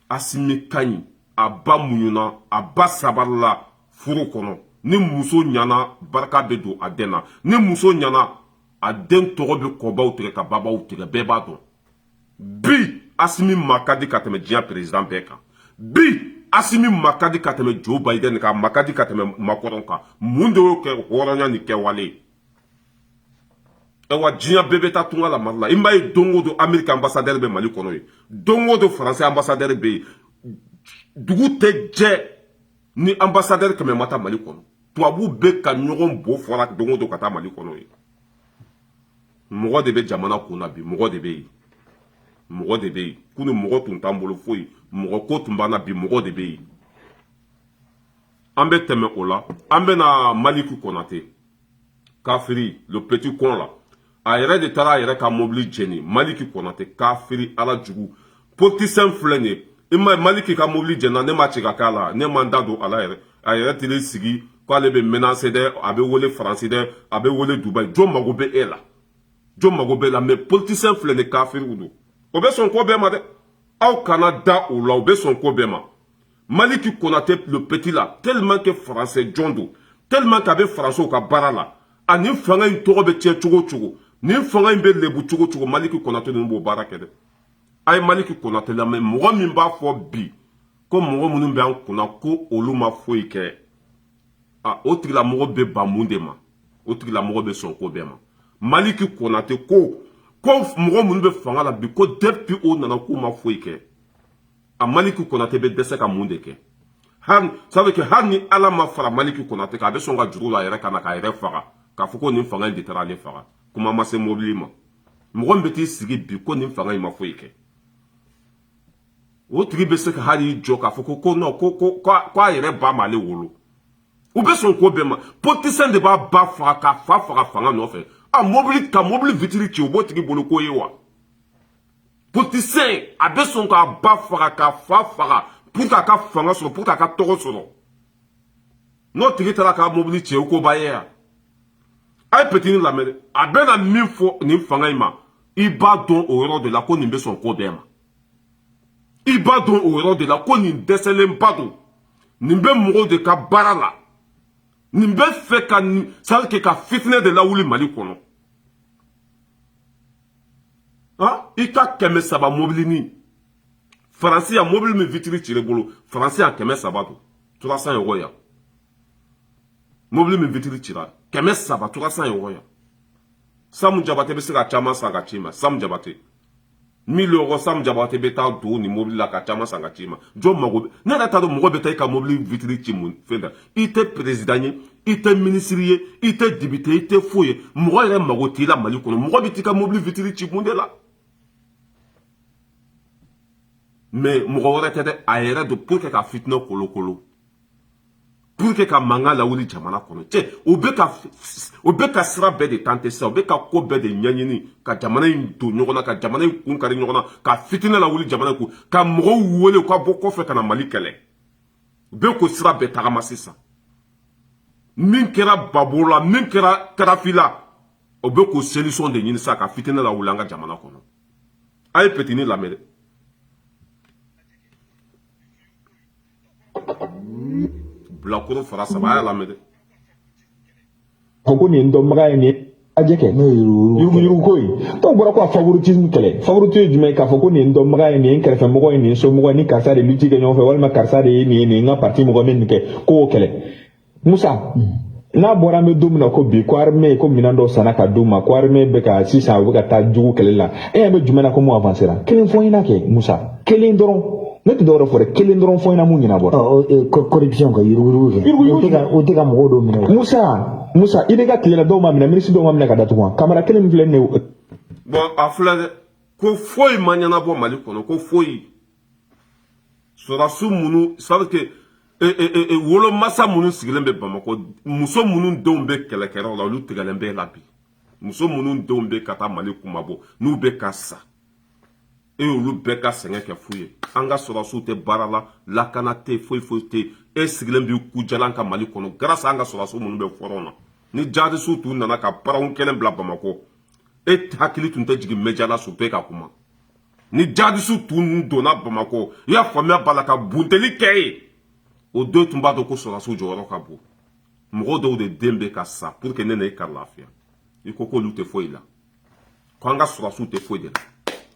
[SPEAKER 1] asimi ka ɲi a ba muɲuna a ba sabarila furu kɔnɔ ni muso ɲana barika bɛ don a den na ni muso ɲana a den tɔgɔ bɛ kɔbaw tigɛ ka babaw tigɛ bɛɛ b'a dɔn bi asimi ma ka di ka tɛmɛ diɲɛ perezidan bɛɛ kan bi asimi ma ka di ka tɛmɛ jo bayidɛni kan ma ka di ka tɛmɛ makɔrɔn kan mun de y'o kɛ hɔrɔnya ni kɛwale ye awa diɲɛ bɛɛ bɛ taa tunga la mali la i m'a ye don o don amerika ambasadɛri bɛ mali kɔnɔ yen don o don faransi ambasadɛri bɛ yen dugu tɛ jɛ ni ambasadɛri kɛmɛ ma taa mali kɔnɔ tubabu bɛ ka ɲɔgɔn bo fara don o don ka taa mali kɔnɔ yen mɔgɔ de bɛ jamana kun na bi mɔgɔ de bɛ yen mɔgɔ de bɛ yen kunu mɔgɔ tun t'an bolo foyi mɔgɔ ko tun b'an na bi mɔgɔ de bɛ yen an bɛ tɛmɛ o la an bɛ na maliki kɔnate kafiri le petit con la a yɛrɛ de taara a yɛrɛ ka mobili jeni maliki kɔnate kafiri ala jugu politisɛn filɛ nin ye i ma maliki ka mobili jenina ne ma ci ka k'a la ne ma n da don a la yɛrɛ a yɛrɛ tili sigi k'ale bɛ menase dɛ a bɛ wele faransi dɛ a bɛ wele dubai jɔn mago bɛ e la jɔn mago b'e la mɛ politisɛn filɛ nin kafiriw don o bɛ sɔn ko bɛɛ ma dɛ aw kana da o la o bɛ sɔn ko bɛɛ ma maliki konate le petit la tellement que français jɔn don tellement que a bɛ faransiw ka baara la ani fanga in tɔgɔ bɛ tiɲɛ cogo o cogo nin fanga in bɛ lebu cogo o cogo maliki konate ninnu b'o baara kɛ dɛ a ye maliki konatɛ lamɛn mɔgɔ min b'a fɔ bi ko mɔgɔ minnu bɛ an kunna ko olu ma foyi kɛ a o tigilamɔgɔ bɛ ban mun de ma o tigilamɔgɔ bɛ sɔn ko bɛɛ ma maliki konatɛ ko ko mɔgɔ minnu bɛ fanga la bi ko depuis o nana k'u ma foyi kɛ a maliki konatɛ bɛ dɛsɛ ka mun de kɛ hali ça veut dire hali ni ala ma fara maliki konatɛ kan a bɛ sɔn ka juru la a yɛrɛ kan na k'a yɛrɛ faga k'a fɔ ko nin fanga in de taara ale faga kuma ma se mobili ma mɔgɔ min bɛ t'i sigi bi ko nin fanga in ma foyi kɛ o tigi bɛ se ka hali jɔ k'a fɔ ko ko non ko ko k'a yɛrɛ ba m'ale wolo u bɛ sɔn ko bɛɛ ma politisiyɛn de b'a ba faga k'a fa faga fanga nɔfɛ a mobili ka mobili vitiri ci o b'o tigi bolo ko ye wa politisiyɛn a bɛ sɔn k'a ba faga k'a fa faga pour k'a ka fanga sɔrɔ pour k'a ka tɔgɔ sɔrɔ n'o tigi taara k'a mobili cɛn o ko b'a ye yan a ye petini lamɛn dɛ a bɛna min fɔ nin fanga in ma i b'a dɔn o yɔrɔ de la ko nin bɛ sɔn ko bɛɛ ma i b'a dɔn o yɔrɔ de la ko nin dɛsɛlenba don nin bɛ mɔgɔw de ka baara la nin bɛ fɛ ka sari kɛ ka fitinɛ de lawuli mali kɔnɔ i ka kɛmɛ saba mobilinin faransi yan mobili min vitiri cir'e bolo faransi yan kɛmɛ saba don trois cents euro yan mobili min vitiri cira kɛmɛ saba trois cents euro yan samu jabate bɛ se ka caman san ka c'i ma samu jabate miliyɔn kɔ samu jabate bɛ taa don nin mobili la ka caman san ka c'i ma jɔn mago bɛ ne yɛrɛ t'a dɔn mɔgɔ bɛ taa i ka mobili vitiri ci mun fɛn da i tɛ perezidan ye i tɛ minisiri ye i tɛ depite i tɛ foyi ye mɔgɔ yɛrɛ mago t'i la mali kɔnɔ mɔgɔ bɛ t'i ka mobili vitiri ci mun de la mais mɔgɔ wɛrɛ tɛ dɛ a yɛrɛ don pour que ka fitinɛ kolokolo pour que ka mankan lawuli jamana kɔnɔ cɛ u bɛ ka u bɛ ka sira bɛɛ de tenter sisan u bɛ ka ko bɛɛ de ɲɛɲini ka jamana in don ɲɔgɔn na ka jamana in kun kari ɲɔgɔn na ka fitinɛ lawuli jamana kɔnɔ ka mɔgɔw wele u ka bɔ kɔfɛ ka na mali kɛlɛ u bɛ k'o sira bɛɛ tagama sisan min kɛra gbagbo la min kɛra kadafi la u bɛ k'o solution de ɲini sisan ka fitinɛ lawuli an ka jamana kɔnɔ A ye petini lamɛn dɛ. Bilakoro fara saba a y'a lamɛn A ko nin ye n dɔnbaga ye nin ye ajɛ kɛ n'o ye yuruguyurugu ko ye dɔw bɔra ko a favoritisme kɛlɛ favorite ye jumɛn ye k'a fɔ ko nin ye n dɔnbaga ye nin ye n kɛrɛfɛ mɔgɔ ye nin ye n somɔgɔ ye ni karisa de luti kɛ ɲɔgɔn fɛ walima karisa de ye nin ye nin ye n ka parti mɔgɔ min nin kɛ ko o kɛlɛ musa n'a bɔra an bɛ don min na ko bi ko armée ko minɛn dɔ sanna ka d'u ma ko armée bɛ ka sisan u bɛ ka taa jugu kɛlɛ la e ɲɛ bɛ jumɛn na ko mun avancera kelen fɔ n ɲɛna kɛ musa kelen dɔrɔn ne tɛ dɔwɛrɛ fɔ dɛ kelen dɔrɔn fɔ n ɲɛna mun ɲɛnabɔra corruption ka yuruguyurugu kɛ Yuruguyurugu o tɛ ka o tɛ ka mɔgɔw dɔw minɛ musa musa i bɛ ka tile la dɔw ma minɛ minisiri dɔw ma minɛ ka datugu wa kamara kelen min filɛ nin ye bon a filɛ dɛ ko foyi ma ɲɛnabɔ mali kɔnɔ ko foyi sɔrɔdasiw minnu c'est-à-dire que e, e, e, e wolomasa minnu sigilen bɛ bamakɔ muso minnu denw bɛ kɛlɛkɛyɔrɔ la olu tigɛlen b'e la bi muso minnu denw bɛ ka taa mali kunmabɔ n'u bɛ ka sa e y'olu bɛɛ ka sɛgɛn kɛ fu ye an ka sɔrɔdasiw tɛ baara la lakana tɛ foyi foyi tɛ e sigilen b'i kujalan kan mali kɔnɔ grâce an ka sɔrɔdasiw minnu bɛ fɔrɔn na ni jadisiw tun nana ka baaraw kɛnɛ bila bamakɔ e hakili tun tɛ jigin média la su bɛɛ ka kuma ni jadisiw tun donna bamakɔ i y'a faamuya b'a la ka bunteli kɛ ye o don tun b'a dɔn ko sɔrɔdasiw jɔyɔrɔ ka bon mɔgɔ dɔw de den bɛ ka sa pour que ne ani i ka lafiya i ko k'olu tɛ foyi la ko an ka sɔrɔdasiw tɛ foyi de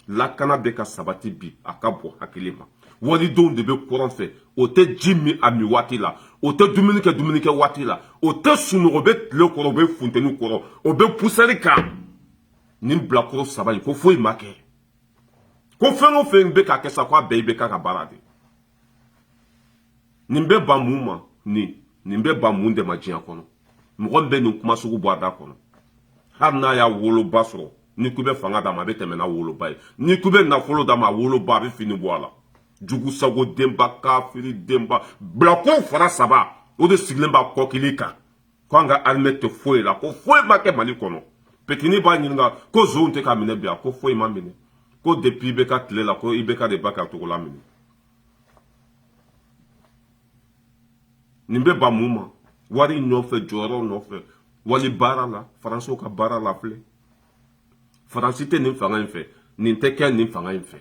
[SPEAKER 1] la lakana bɛ ka sabati bi a ka bɔ hakili ma walidenw de bɛ kɔrɔn fɛ o tɛ ji min a min waati la o tɛ dumuni kɛ dumuni kɛ waati la o tɛ sunɔgɔ o bɛ tile kɔrɔ o bɛ funteni kɔrɔ o bɛ poussière kan nin bilakoro saba in ko foyi ma kɛ ko fɛn o fɛn bɛ ka kɛ sa ko a bɛɛ IBK ka baara de nin bɛ ban mun ma nin nin bɛ ban mun de ma diɲɛ kɔnɔ mɔgɔ min bɛ nin kuma sugu bɔ a da kɔnɔ hali n'a y'a woloba sɔrɔ n'i k'u bɛ fanga d'a ma a bɛ tɛmɛ n'a woloba ye n'i k'u bɛ nafolo d'a ma a woloba a bɛ fini bɔ a la jugu sago denba kafiri denba bilakoro fara saba o de sigilen b'a kɔkili kan ko an ka armée tɛ foyi la ko foyi ma kɛ mali kɔnɔ peut-être n'i b'a ɲininka ko zonw tɛ ka minɛ bi a ko foyi ma minɛ ko depuis IBK tile la ko IBK de ba ka cogo la minɛ nin bɛ ban mun ma wari nɔfɛ jɔyɔrɔ nɔfɛ wali baara la faransiw ka baara la filɛ faransi tɛ nin fanga in fɛ nin tɛ kɛ nin fanga in fɛ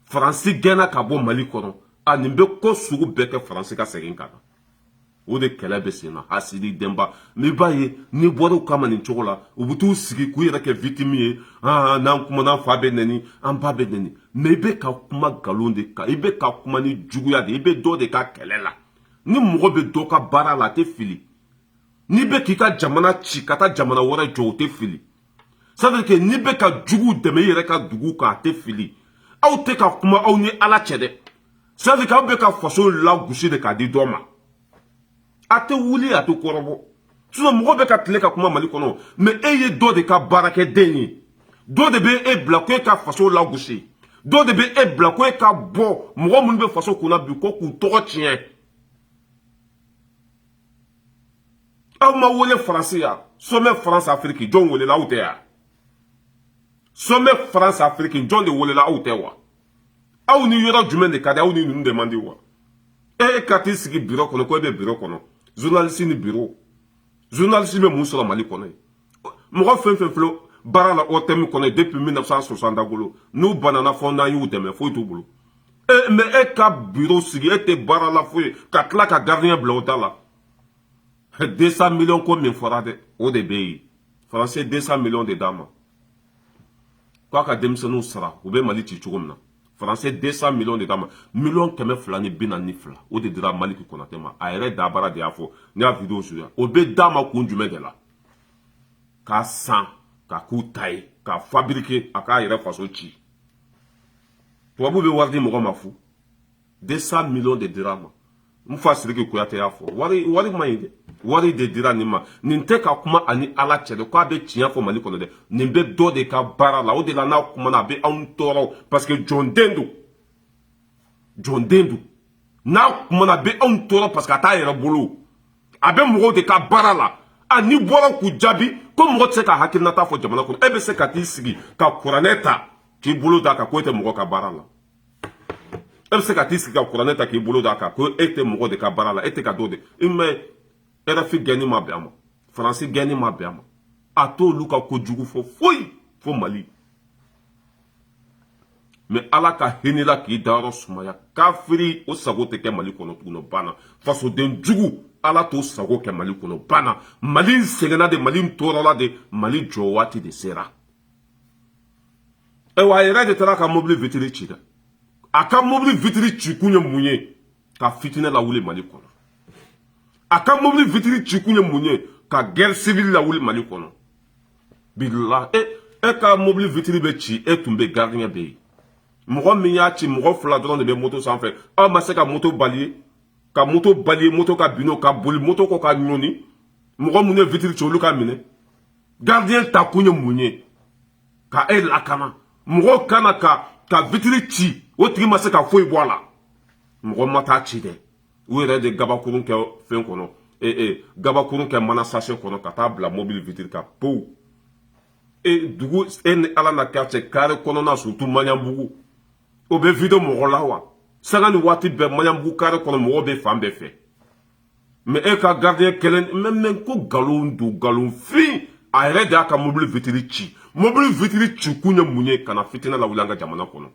[SPEAKER 1] faransi gɛnna ka bɔ mali kɔnɔ a nin bɛ ko sugu bɛɛ kɛ faransi ka segin ka na o de kɛlɛ bɛ sen na hasidi denba n'i b'a ye n'i bɔr'u kama nin cogo la u bɛ t'u sigi k'u yɛrɛ kɛ victime ye aa n'an kumana an fa bɛ nɛni an ba bɛ nɛni mais i bɛ ka kuma nkalon de kan i bɛ ka kuma ni juguya de i bɛ dɔ de ka kɛlɛ la ni mɔgɔ bɛ dɔ ka baara la a tɛ fili n'i bɛ k'i ka jamana ci ka taa jamana wɛrɛ jɔ o tɛ fili ça veut dire que n'i bɛ ka juguw dɛmɛ i yɛrɛ ka dugu kan a tɛ fili aw tɛ ka kuma aw ni ala cɛ dɛ ça veut dire k'aw bɛ ka faso lagosi de k'a di dɔ ma a tɛ wuli a tɛ kɔrɔbɔ sinon mɔgɔ bɛ ka tile ka kuma mali kɔnɔ mais e ye dɔ de ka baarakɛden ye dɔ de bɛ e bila ko e ka faso lagosi dɔ de bɛ e bila ko e ka bɔ mɔgɔ minnu bɛ faso kunna bi ko k'u tɔgɔ tiɲɛ aw ma wele faransi yan somɛ faransi afiriki jɔn welela aw tɛ wa somɛ faransi afiriki jɔn de welela aw tɛ wa aw ni yɔrɔ jumɛn de ka di aw ni ninnu de man di wa e ka t'i sigi biro kɔnɔ ko e bɛ biro kɔnɔ zunalisi ni biro zunalisi bɛ mun sɔrɔ mali kɔnɔ ye mɔgɔ fɛn o fɛn filɛ baara la ortm kɔnɔ ye depuis 1960 da bolo n'u banana fo n'an y'u dɛmɛ foyi t'u bolo e mais e ka biro sigi e tɛ baara la foyi ka tila ka gardien bila o da la 200 millions ko min fɔra dɛ o de bɛ yen faransi 200 millions de d'a ma k'a ka denmisɛnninw sara u bɛ mali ci cogo min na faransi 200 millions de d'a ma miliyɔn kɛmɛ fila ni bi naani ni fila o de dira maliki konate ma a yɛrɛ dabara de y'a fɔ ne y'a video suya o bɛ d'a ma kun jumɛn de la k'a san k'a k'u ta ye k'a fabriquer a k'a yɛrɛ faso ci tubabu bɛ wari di mɔgɔ ma fu 200 millions de dira a ma n fa siriki kuyate y'a fɔ wari wari ma ɲi dɛ wari de dira nin ma nin tɛ ka kuma a ni ala cɛ de k'a bɛ tiɲɛ fɔ mali kɔnɔ dɛ nin bɛ dɔ de ka baara la o de la n'a kumana a bɛ anw tɔɔrɔ parce que jɔnden don jɔnden don n'a kumana a bɛ anw tɔɔrɔ parce que a t'a yɛrɛ bolo a bɛ mɔgɔw de ka baara la a n'i bɔra k'u jaabi ko mɔgɔ tɛ se ka hakilinata fɔ jamana kɔnɔ e bɛ se ka t'i sigi ka kuranɛ ta k'i bolo d'a kan ko e tɛ mɔgɔ ka baara la e bɛ se ka t'i sigi ka kuranɛ ta k'i bolo d'a kan ko e tɛ mɔgɔ de ka baara la e tɛ ka dɔ dɛmɛ rfi gɛnni ma bɛn a ma faransi gɛnni ma bɛn a ma a t'olu ka ko jugu fɔ foyi fo mali mais ala ka hinɛ i la k'i dayɔrɔ sumaya kafiri o sago tɛ kɛ mali kɔnɔ tuguni banna fasoden jugu ala t'o sago kɛ mali kɔnɔ banna mali sɛgɛnna de mali tɔɔrɔla de mali jɔ waati de sera ayiwa a yɛrɛ de taara ka mobili vitiri ci dɛ a ka mobili vitiri ci kun ye mun ye ka fitinɛ lawuli mali kɔnɔ a ka mobili vitiri ci kun ye mun ye ka guerre civile lawuli mali kɔnɔ bilahi e e ka mobili vitiri bɛ ci e tun bɛ gardien bɛ yen mɔgɔ min y'a ci mɔgɔ fila dɔrɔn de bɛ moto sanfɛ aw ma se ka moto bali ka moto bali moto ka bin ka boli moto kɔ k'a ɲɔni mɔgɔ minnu ye vitiri ci olu ka minɛ gardien ta kun ye mun ye ka e lakana mɔgɔw kana ka ka vitiri ci o tigi ma se ka foyi bɔ a la mɔgɔ ma taa a ci dɛ u yɛrɛ de gabakurun kɛ fɛn kɔnɔ ee eh, gabakurun kɛ mana sase kɔnɔ ka taa bila mobili vitiri kan pow e dugu e ni ala na kɛ cɛ kare kɔnɔna surtout maɲanbugu o bɛ vider mɔgɔ la wa sanga ni waati bɛɛ maɲanbugu kare kɔnɔ mɔgɔ bɛ fan bɛɛ fɛ mɛ e ka gardien kelen mɛ mɛ ko nkalon don nkalon fin a yɛrɛ de y'a ka mobili vitiri ci mobili vitiri ci kun ye mun ye ka na fitina lawuli an ka jamana kɔnɔ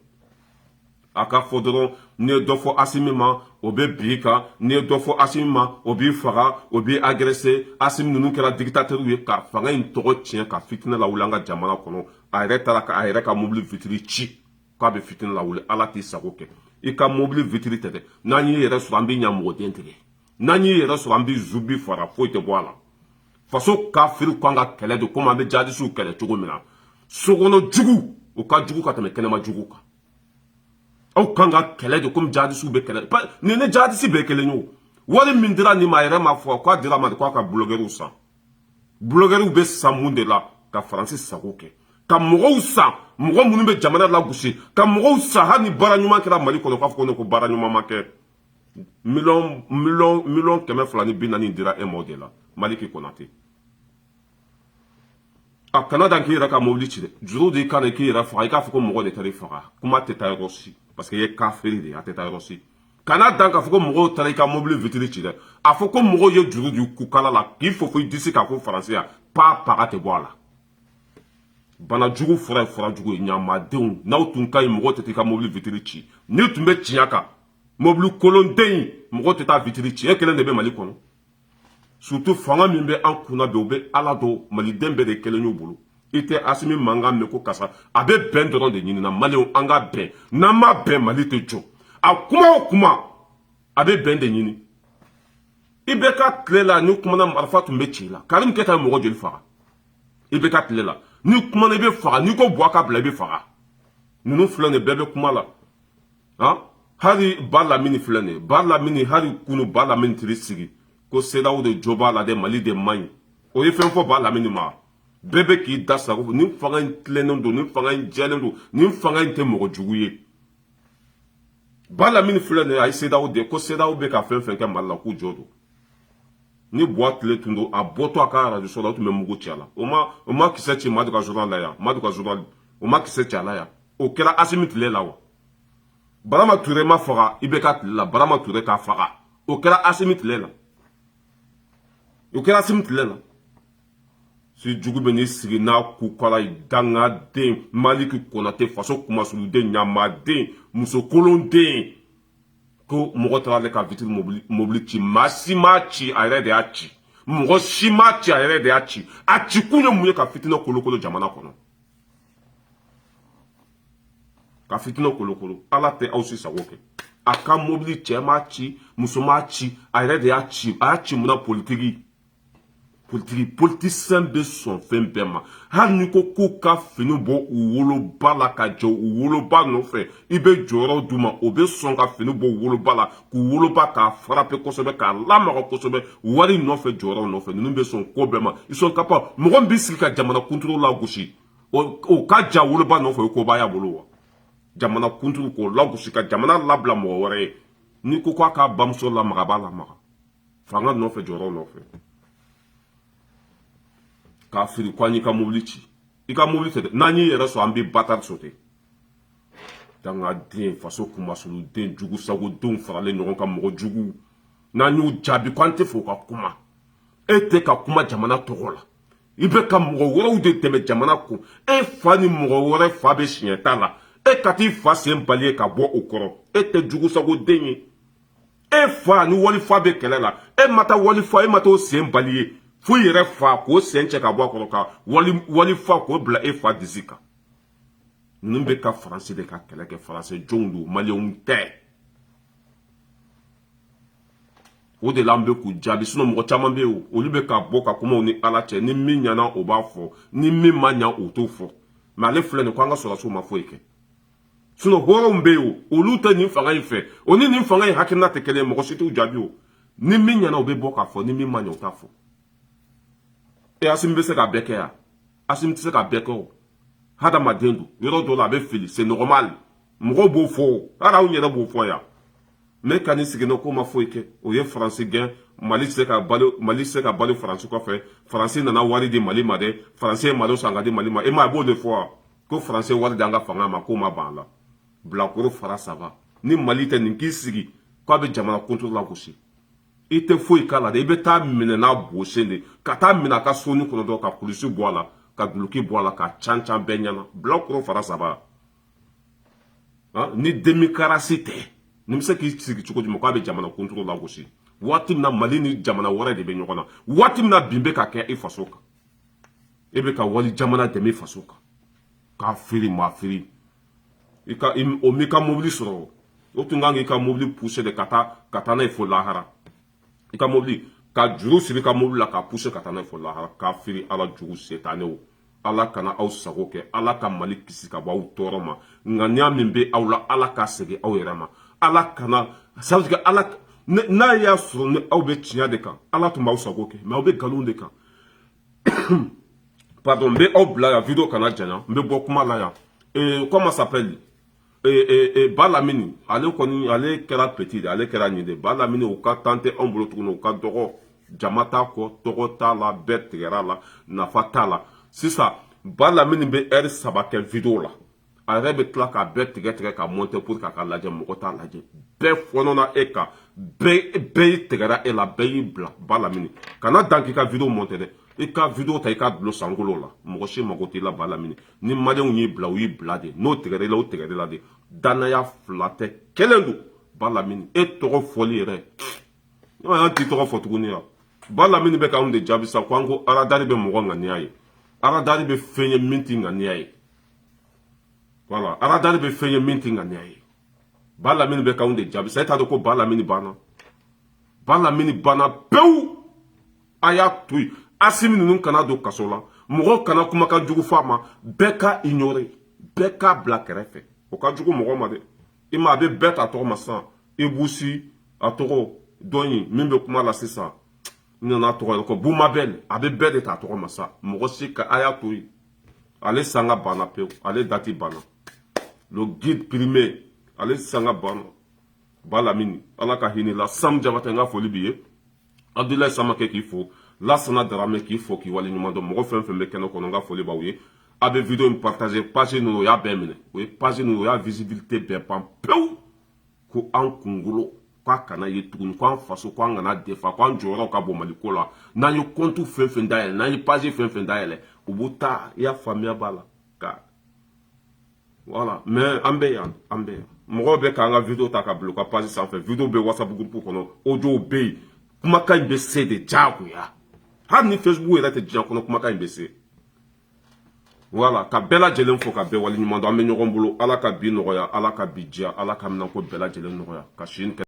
[SPEAKER 1] a ka fɔ dɔrɔn n'i ye dɔ fɔ asimi ma o bɛ bin i kan n'i ye dɔ fɔ asimi ma o b'i faga o b'i agrese asimi ninnu kɛra digitatɛriw ye ka fanga in tɔgɔ tiɲɛ ka fitina lawuli an ka jamana kɔnɔ a yɛrɛ taara ka a yɛrɛ ka mobili vitiri ci k'a bɛ fitina lawuli ala t'i sago kɛ i ka mobili vitiri tɛ dɛ n'an y'i yɛrɛ sɔrɔ an bɛ ɲamɔgɔden tigɛ n'an y'i yɛrɛ sɔrɔ an bɛ zubi fara foyi tɛ bɔ a la faso kafiri kan ka kɛlɛ de komi an bɛ jadisiw kɛlɛ cogo min na sokɔnɔ jugu o ka jugu ka tɛmɛ kɛnɛma jugu kan aw kan ka kɛlɛ de komi jadisiw bɛ kɛlɛ nin ni jadisi bɛɛ kelen ye o wari min dira nin ma a yɛrɛ ma fɔ k'a dira a ma de k'a ka bulogɛriw san bulogɛriw bɛ san mun de la ka faransi sago kɛ ka mɔgɔw san mɔgɔ minnu bɛ jamana lagosi ka mɔgɔw san hali ni baara ɲuman kɛra mali kɔnɔ k'a fɔ ko ne ko baara ɲuman ma kɛ miliyɔn miliyɔn miliyɔn kɛmɛ fila ni bi naani dira e ma o de la maliki konate a kana dan k'i yɛrɛ ka mobili ci dɛ juru d'i kan na k'i yɛrɛ faga i k'a fɔ ko mɔgɔ de taara i faga kuma tɛ taa yɔrɔ si parce que i ye kafiri de ye a tɛ taa yɔrɔ si kana dan k'a fɔ ko mɔgɔw taara i ka mobili vitiri ci dɛ a fɔ ko mɔgɔw ye juru d'i kukala la k'i fofo i disi kan ko faransi yan pa paga tɛ bɔ a la bana jugu fura ye fura jugu ye ɲamadenw n'aw tun ka ɲi mɔgɔw tɛ taa i ka mobili vitiri ci n'i tun bɛ tiɲɛ kan mobili kolon den mɔgɔ tɛ taa vitiri ci e kelen de bɛ mali kɔnɔ surtout fanga min bɛ an kunna bi o bɛ ala dɔn maliden bɛɛ de kelen y'u bolo i tɛ asimi mankan mɛn ko kasa a bɛ bɛn dɔrɔn de ɲinina maliw an ka bɛn n'an ma bɛn mali tɛ jɔ a kuma o kuma a bɛ bɛn de ɲini ibeka tile la n'i kumana marifa tun bɛ ci i la karim keyita mɔgɔ joli faga ibeka tile la n'i kumana i bɛ faga n'i ko buwa k'a bila i bɛ faga ninnu filɛ nin bɛɛ bɛ kuma la han hali ba lamini filɛ nin ye ba lamini hali kunu ba lamini tiri sigi ko sedaw de jo b'a la dɛ mali de man ɲi o ye fɛn fɔ ba lamini ma bɛɛ bɛ k'i da sago nin fanga in tilennen don nin fanga in jɛlen don nin fanga in tɛ mɔgɔ jugu ye ba lamini filɛ nin ye a ye sedaw de ko sedaw bɛ ka fɛn fɛn kɛ mali la k'u jo don ni buwa tile tun don a bɔtɔ a ka arajoso la o tun bɛ mugu ci a la o ma o ma kisɛ ci madu ka journal la yan madu ka journal o ma kisɛ ci a la yan o kɛra asimi tile la wa birama ture ma faga ibeka tile la birama ture k'a faga o kɛra asimi tile la o kɛra asimi tile la si jugu bɛ n'i sigi n'a kukala ye dangaden maliki konate faso kumasuluden ɲamaden musokolon den ko mɔgɔ taara ale ka vitiri mobili ci maa si m'a ci a yɛrɛ de y'a ci mɔgɔ si m'a ci a yɛrɛ de y'a ci a ci kun ye mun ye ka fitina kolokolo jamana kɔnɔ ka fitinɛ kolokolo ala tɛ aw si sago kɛ a ka mobili cɛ m'a ci muso m'a ci a yɛrɛ de y'a ci a y'a ci mun na politiki politiki politisiyɛn bɛ sɔn fɛn bɛɛ ma hali n'i ko k'u ka fini bɔ u woloba la ka jɛ u woloba nɔfɛ i bɛ jɔyɔrɔ d'u ma o bɛ sɔn ka fini bɔ u woloba la k'u woloba k'a farape kosɛbɛ k'a lamaga kosɛbɛ wari nɔfɛ jɔyɔrɔ nɔfɛ ninnu bɛ sɔn ko bɛɛ ma ils sont capables mɔgɔ bɛ sigi ka jamana kuntigi lagosi o ka j'a woloba nɔfɛ o koba y'a bolo wa jamana kuntigi k'o lagosi ka jamana labila mɔgɔ wɛrɛ ye n'i ko k'a k'a bamuso lamaga a b'a lamaga fanga nɔfɛ jɔyɔrɔ nɔfɛ kafiri ko an y'i ka mobili ci i ka mobili tɛ dɛ n'an y'i yɛrɛ sɔrɔ an bɛ batari sote dangaden faso kunmasuliden jugu sagodenw faralen ɲɔgɔn kan mɔgɔ juguw n'an y'u jaabi ko an t'a fɛ u ka kuma e tɛ ka kuma jamana tɔgɔ la i bɛ ka mɔgɔ wɛrɛw de dɛmɛ jamana kan e fa ni mɔgɔ wɛrɛ fa bɛ siɲɛta la e ka t'i fa sen bali ye ka bɔ o kɔrɔ e tɛ jugu sagoden ye e fa ni walifa bɛ kɛlɛ la e ma taa walifa e ma t'o sen bali ye fo i yɛrɛ fa k'o sen cɛ ka bɔ a kɔrɔ ka walifa k'o bila e fa disi kan ninnu bɛ ka faransi de ka kɛlɛ kɛ faransi jɔnw don maliyɛnw tɛ o de la an bɛ k'u jaabi sinɔn mɔgɔ caman bɛ yen olu bɛ ka bɔ ka kuma u ni ala cɛ ni min ɲana o b'a fɔ ni min ma ɲa o t'o fɔ mɛ ale filɛ nin ko an ka sɔrɔdasiw ma foyi kɛ sinɔn hɔrɔnw bɛ yen olu tɛ nin fanga in fɛ o ni nin fanga in hakilina tɛ kelen mɔgɔ si t'u jaabi o ni min ɲana o bɛ bɔ k'a fɔ ni min ma ɲa o t'a fɔ e asimi bɛ se ka bɛɛ kɛ yan asimi tɛ se ka bɛɛ kɛ o hadamaden don yɔrɔ dɔ la a bɛ fili c'est normal mɔgɔw b'o fɔ o hali anw yɛrɛ b'o fɔ yan nka n'i siginna k'o ma foyi kɛ o ye faransi gɛn mali tɛ se ka balo mali tɛ se ka balo faransi kɔfɛ faransi nana wari di mali ma dɛ faransi ye malo san k'a di mali ma e ma a b'o de fɔ wa ko faransi wari di an ka fanga ma k'o ma ban a la bilakoro fara saba ni mali tɛ nin k'i sigi k'a bɛ jamana kuntigi lagosi i tɛ foyi k'a la dɛ i bɛ t'a minɛ n'a bosen de ka t'a minɛ a ka sonin kɔnɔ dɔrɔn ka kulusi bɔ a la ka duloki bɔ a la ka can can bɛɛ ɲɛna bilakoro fara saba ni demikarasi tɛ nin bɛ se k'i sigi cogo jumɛn k'a bɛ jamana kuntigi lagosi waati min na mali ni jamana wɛrɛ de bɛ ɲɔgɔn na waati min na bin bɛ ka kɛ i faso kan e bɛ ka wali jamana dɛmɛ i faso kan k'a feere maa feere i ka o m'i ka mobili sɔrɔ o tun kan k'i ka mobili puse de ka taa ka taa n'a ye fo lahara i ka mobili ka juru siri i ka mobili la k'a puse ka taa n'a ye fo lahara kafiri ala jugu setanew ala kana aw sago kɛ ala ka mali kisi ka bɔ aw tɔɔrɔ ma ŋaniya min bɛ aw la ala k'a segin aw yɛrɛ ma ala kana sabu ala n'a y'a sɔrɔ ni aw bɛ tiɲɛ de kan ala tun b'aw sago kɛ mɛ aw bɛ nkalon de kan pardon n bɛ aw bila yan video kana janya n bɛ bɔ kuma la yan ee comment s'appelle ee ee ee ba lamini ale kɔni ale kɛra petit ye ale kɛra nin de ba lamini o ka tan tɛ anw bolo tuguni u ka dɔgɔ jama t'a kɔ tɔgɔ t'a la bɛɛ tigɛra a la nafa t'a la sisan ba lamini bɛ ɛri saba kɛ video la a yɛrɛ bɛ tila k'a bɛɛ tigɛ tigɛ k'a mɔntɛ pour k'a ka lajɛ mɔgɔ t'a lajɛ bɛɛ fɔnɔna e kan bɛɛ y'i tigɛra e la bɛɛ y'i bila ba lamini kana dan k'i ka video mɔntɛ dɛ i ka video ta i k'a dulon sankolo la mɔgɔ si mago t'i la ba lamini ni maliyɛnw y'i bila u y'i bila de n'u tigɛra i la u tigɛra i la de dannaya fila tɛ kelen don ba lamini e tɔgɔ fɔli yɛrɛ e m'a y'an t'i tɔgɔ fɔ tuguni wa ba lamini bɛ k'anw de jaabi sa ko an ko aradari bɛ mɔgɔ ŋaniya ye aradari bɛ fɛn ye min t'i ŋaniya ye wala aradari bɛ fɛn ye min t'i ŋaniya ye ba lamini bɛ k'anw de jaabi sa e t'a dɔn ko ba lamini banna ba lamini banna pewu a y'a to yen asimi ninnu kan'a don kaso la mɔgɔ kana kumakan jugu fɔ a ma bɛɛ k'a ignorer bɛɛ k'a bila kɛrɛfɛ o ka jugu mɔgɔ ma dɛ i ma a bɛ bɛɛ ta tɔgɔ ma sisan i busi a tɔgɔ dɔn ye min bɛ kuma la sisan n nana tɔgɔ ye ko bumabɛn a bɛ bɛɛ de ta tɔgɔ ma sa mɔgɔ si ka a y'a to yen ale sanga banna pewu ale dati banna le guide périmé ale sanga banna ba lamini ala ka hinɛ i la sam jabatɛ n ka foli b'i ye abudulayi samakɛ k'i fo lasana darame k'i fo k'i wale ɲuman dɔn mɔgɔ fɛn fɛn bɛ kɛnɛ kɔnɔ n ka foli b'aw ye a bɛ video in partager page ninnu u y'a bɛɛ minɛ u ye page ninnu u y'a visibilité bɛɛ ban pewu ko an kunkolo k'a kana ye tuguni k'an faso k'an kan'a défendre k'an jɔyɔrɔ ka bɔ mali ko la n'an ye kɔntu fɛn fɛn dayɛlɛ n'an ye page fɛn fɛn dayɛlɛ u b'u ta i y'a faamuya b'a la ka wala mais an bɛ yan an bɛ yan mɔgɔw bɛ k'an ka video ta k'a bila u ka page sanfɛ video bɛ whatsapp groupe kɔnɔ audio bɛ yen kumakan in bɛ se de diyagoya hali ni facebook yɛrɛ tɛ diɲɛ kɔnɔ kumakan in bɛ se wala ka bɛɛ lajɛlen fo ka bɛɛ waleɲuman dɔn an bɛ ɲɔgɔn bolo ala ka bi nɔgɔya ala ka bi diya ala ka minɛnko bɛɛ lajɛlen nɔgɔya ka sin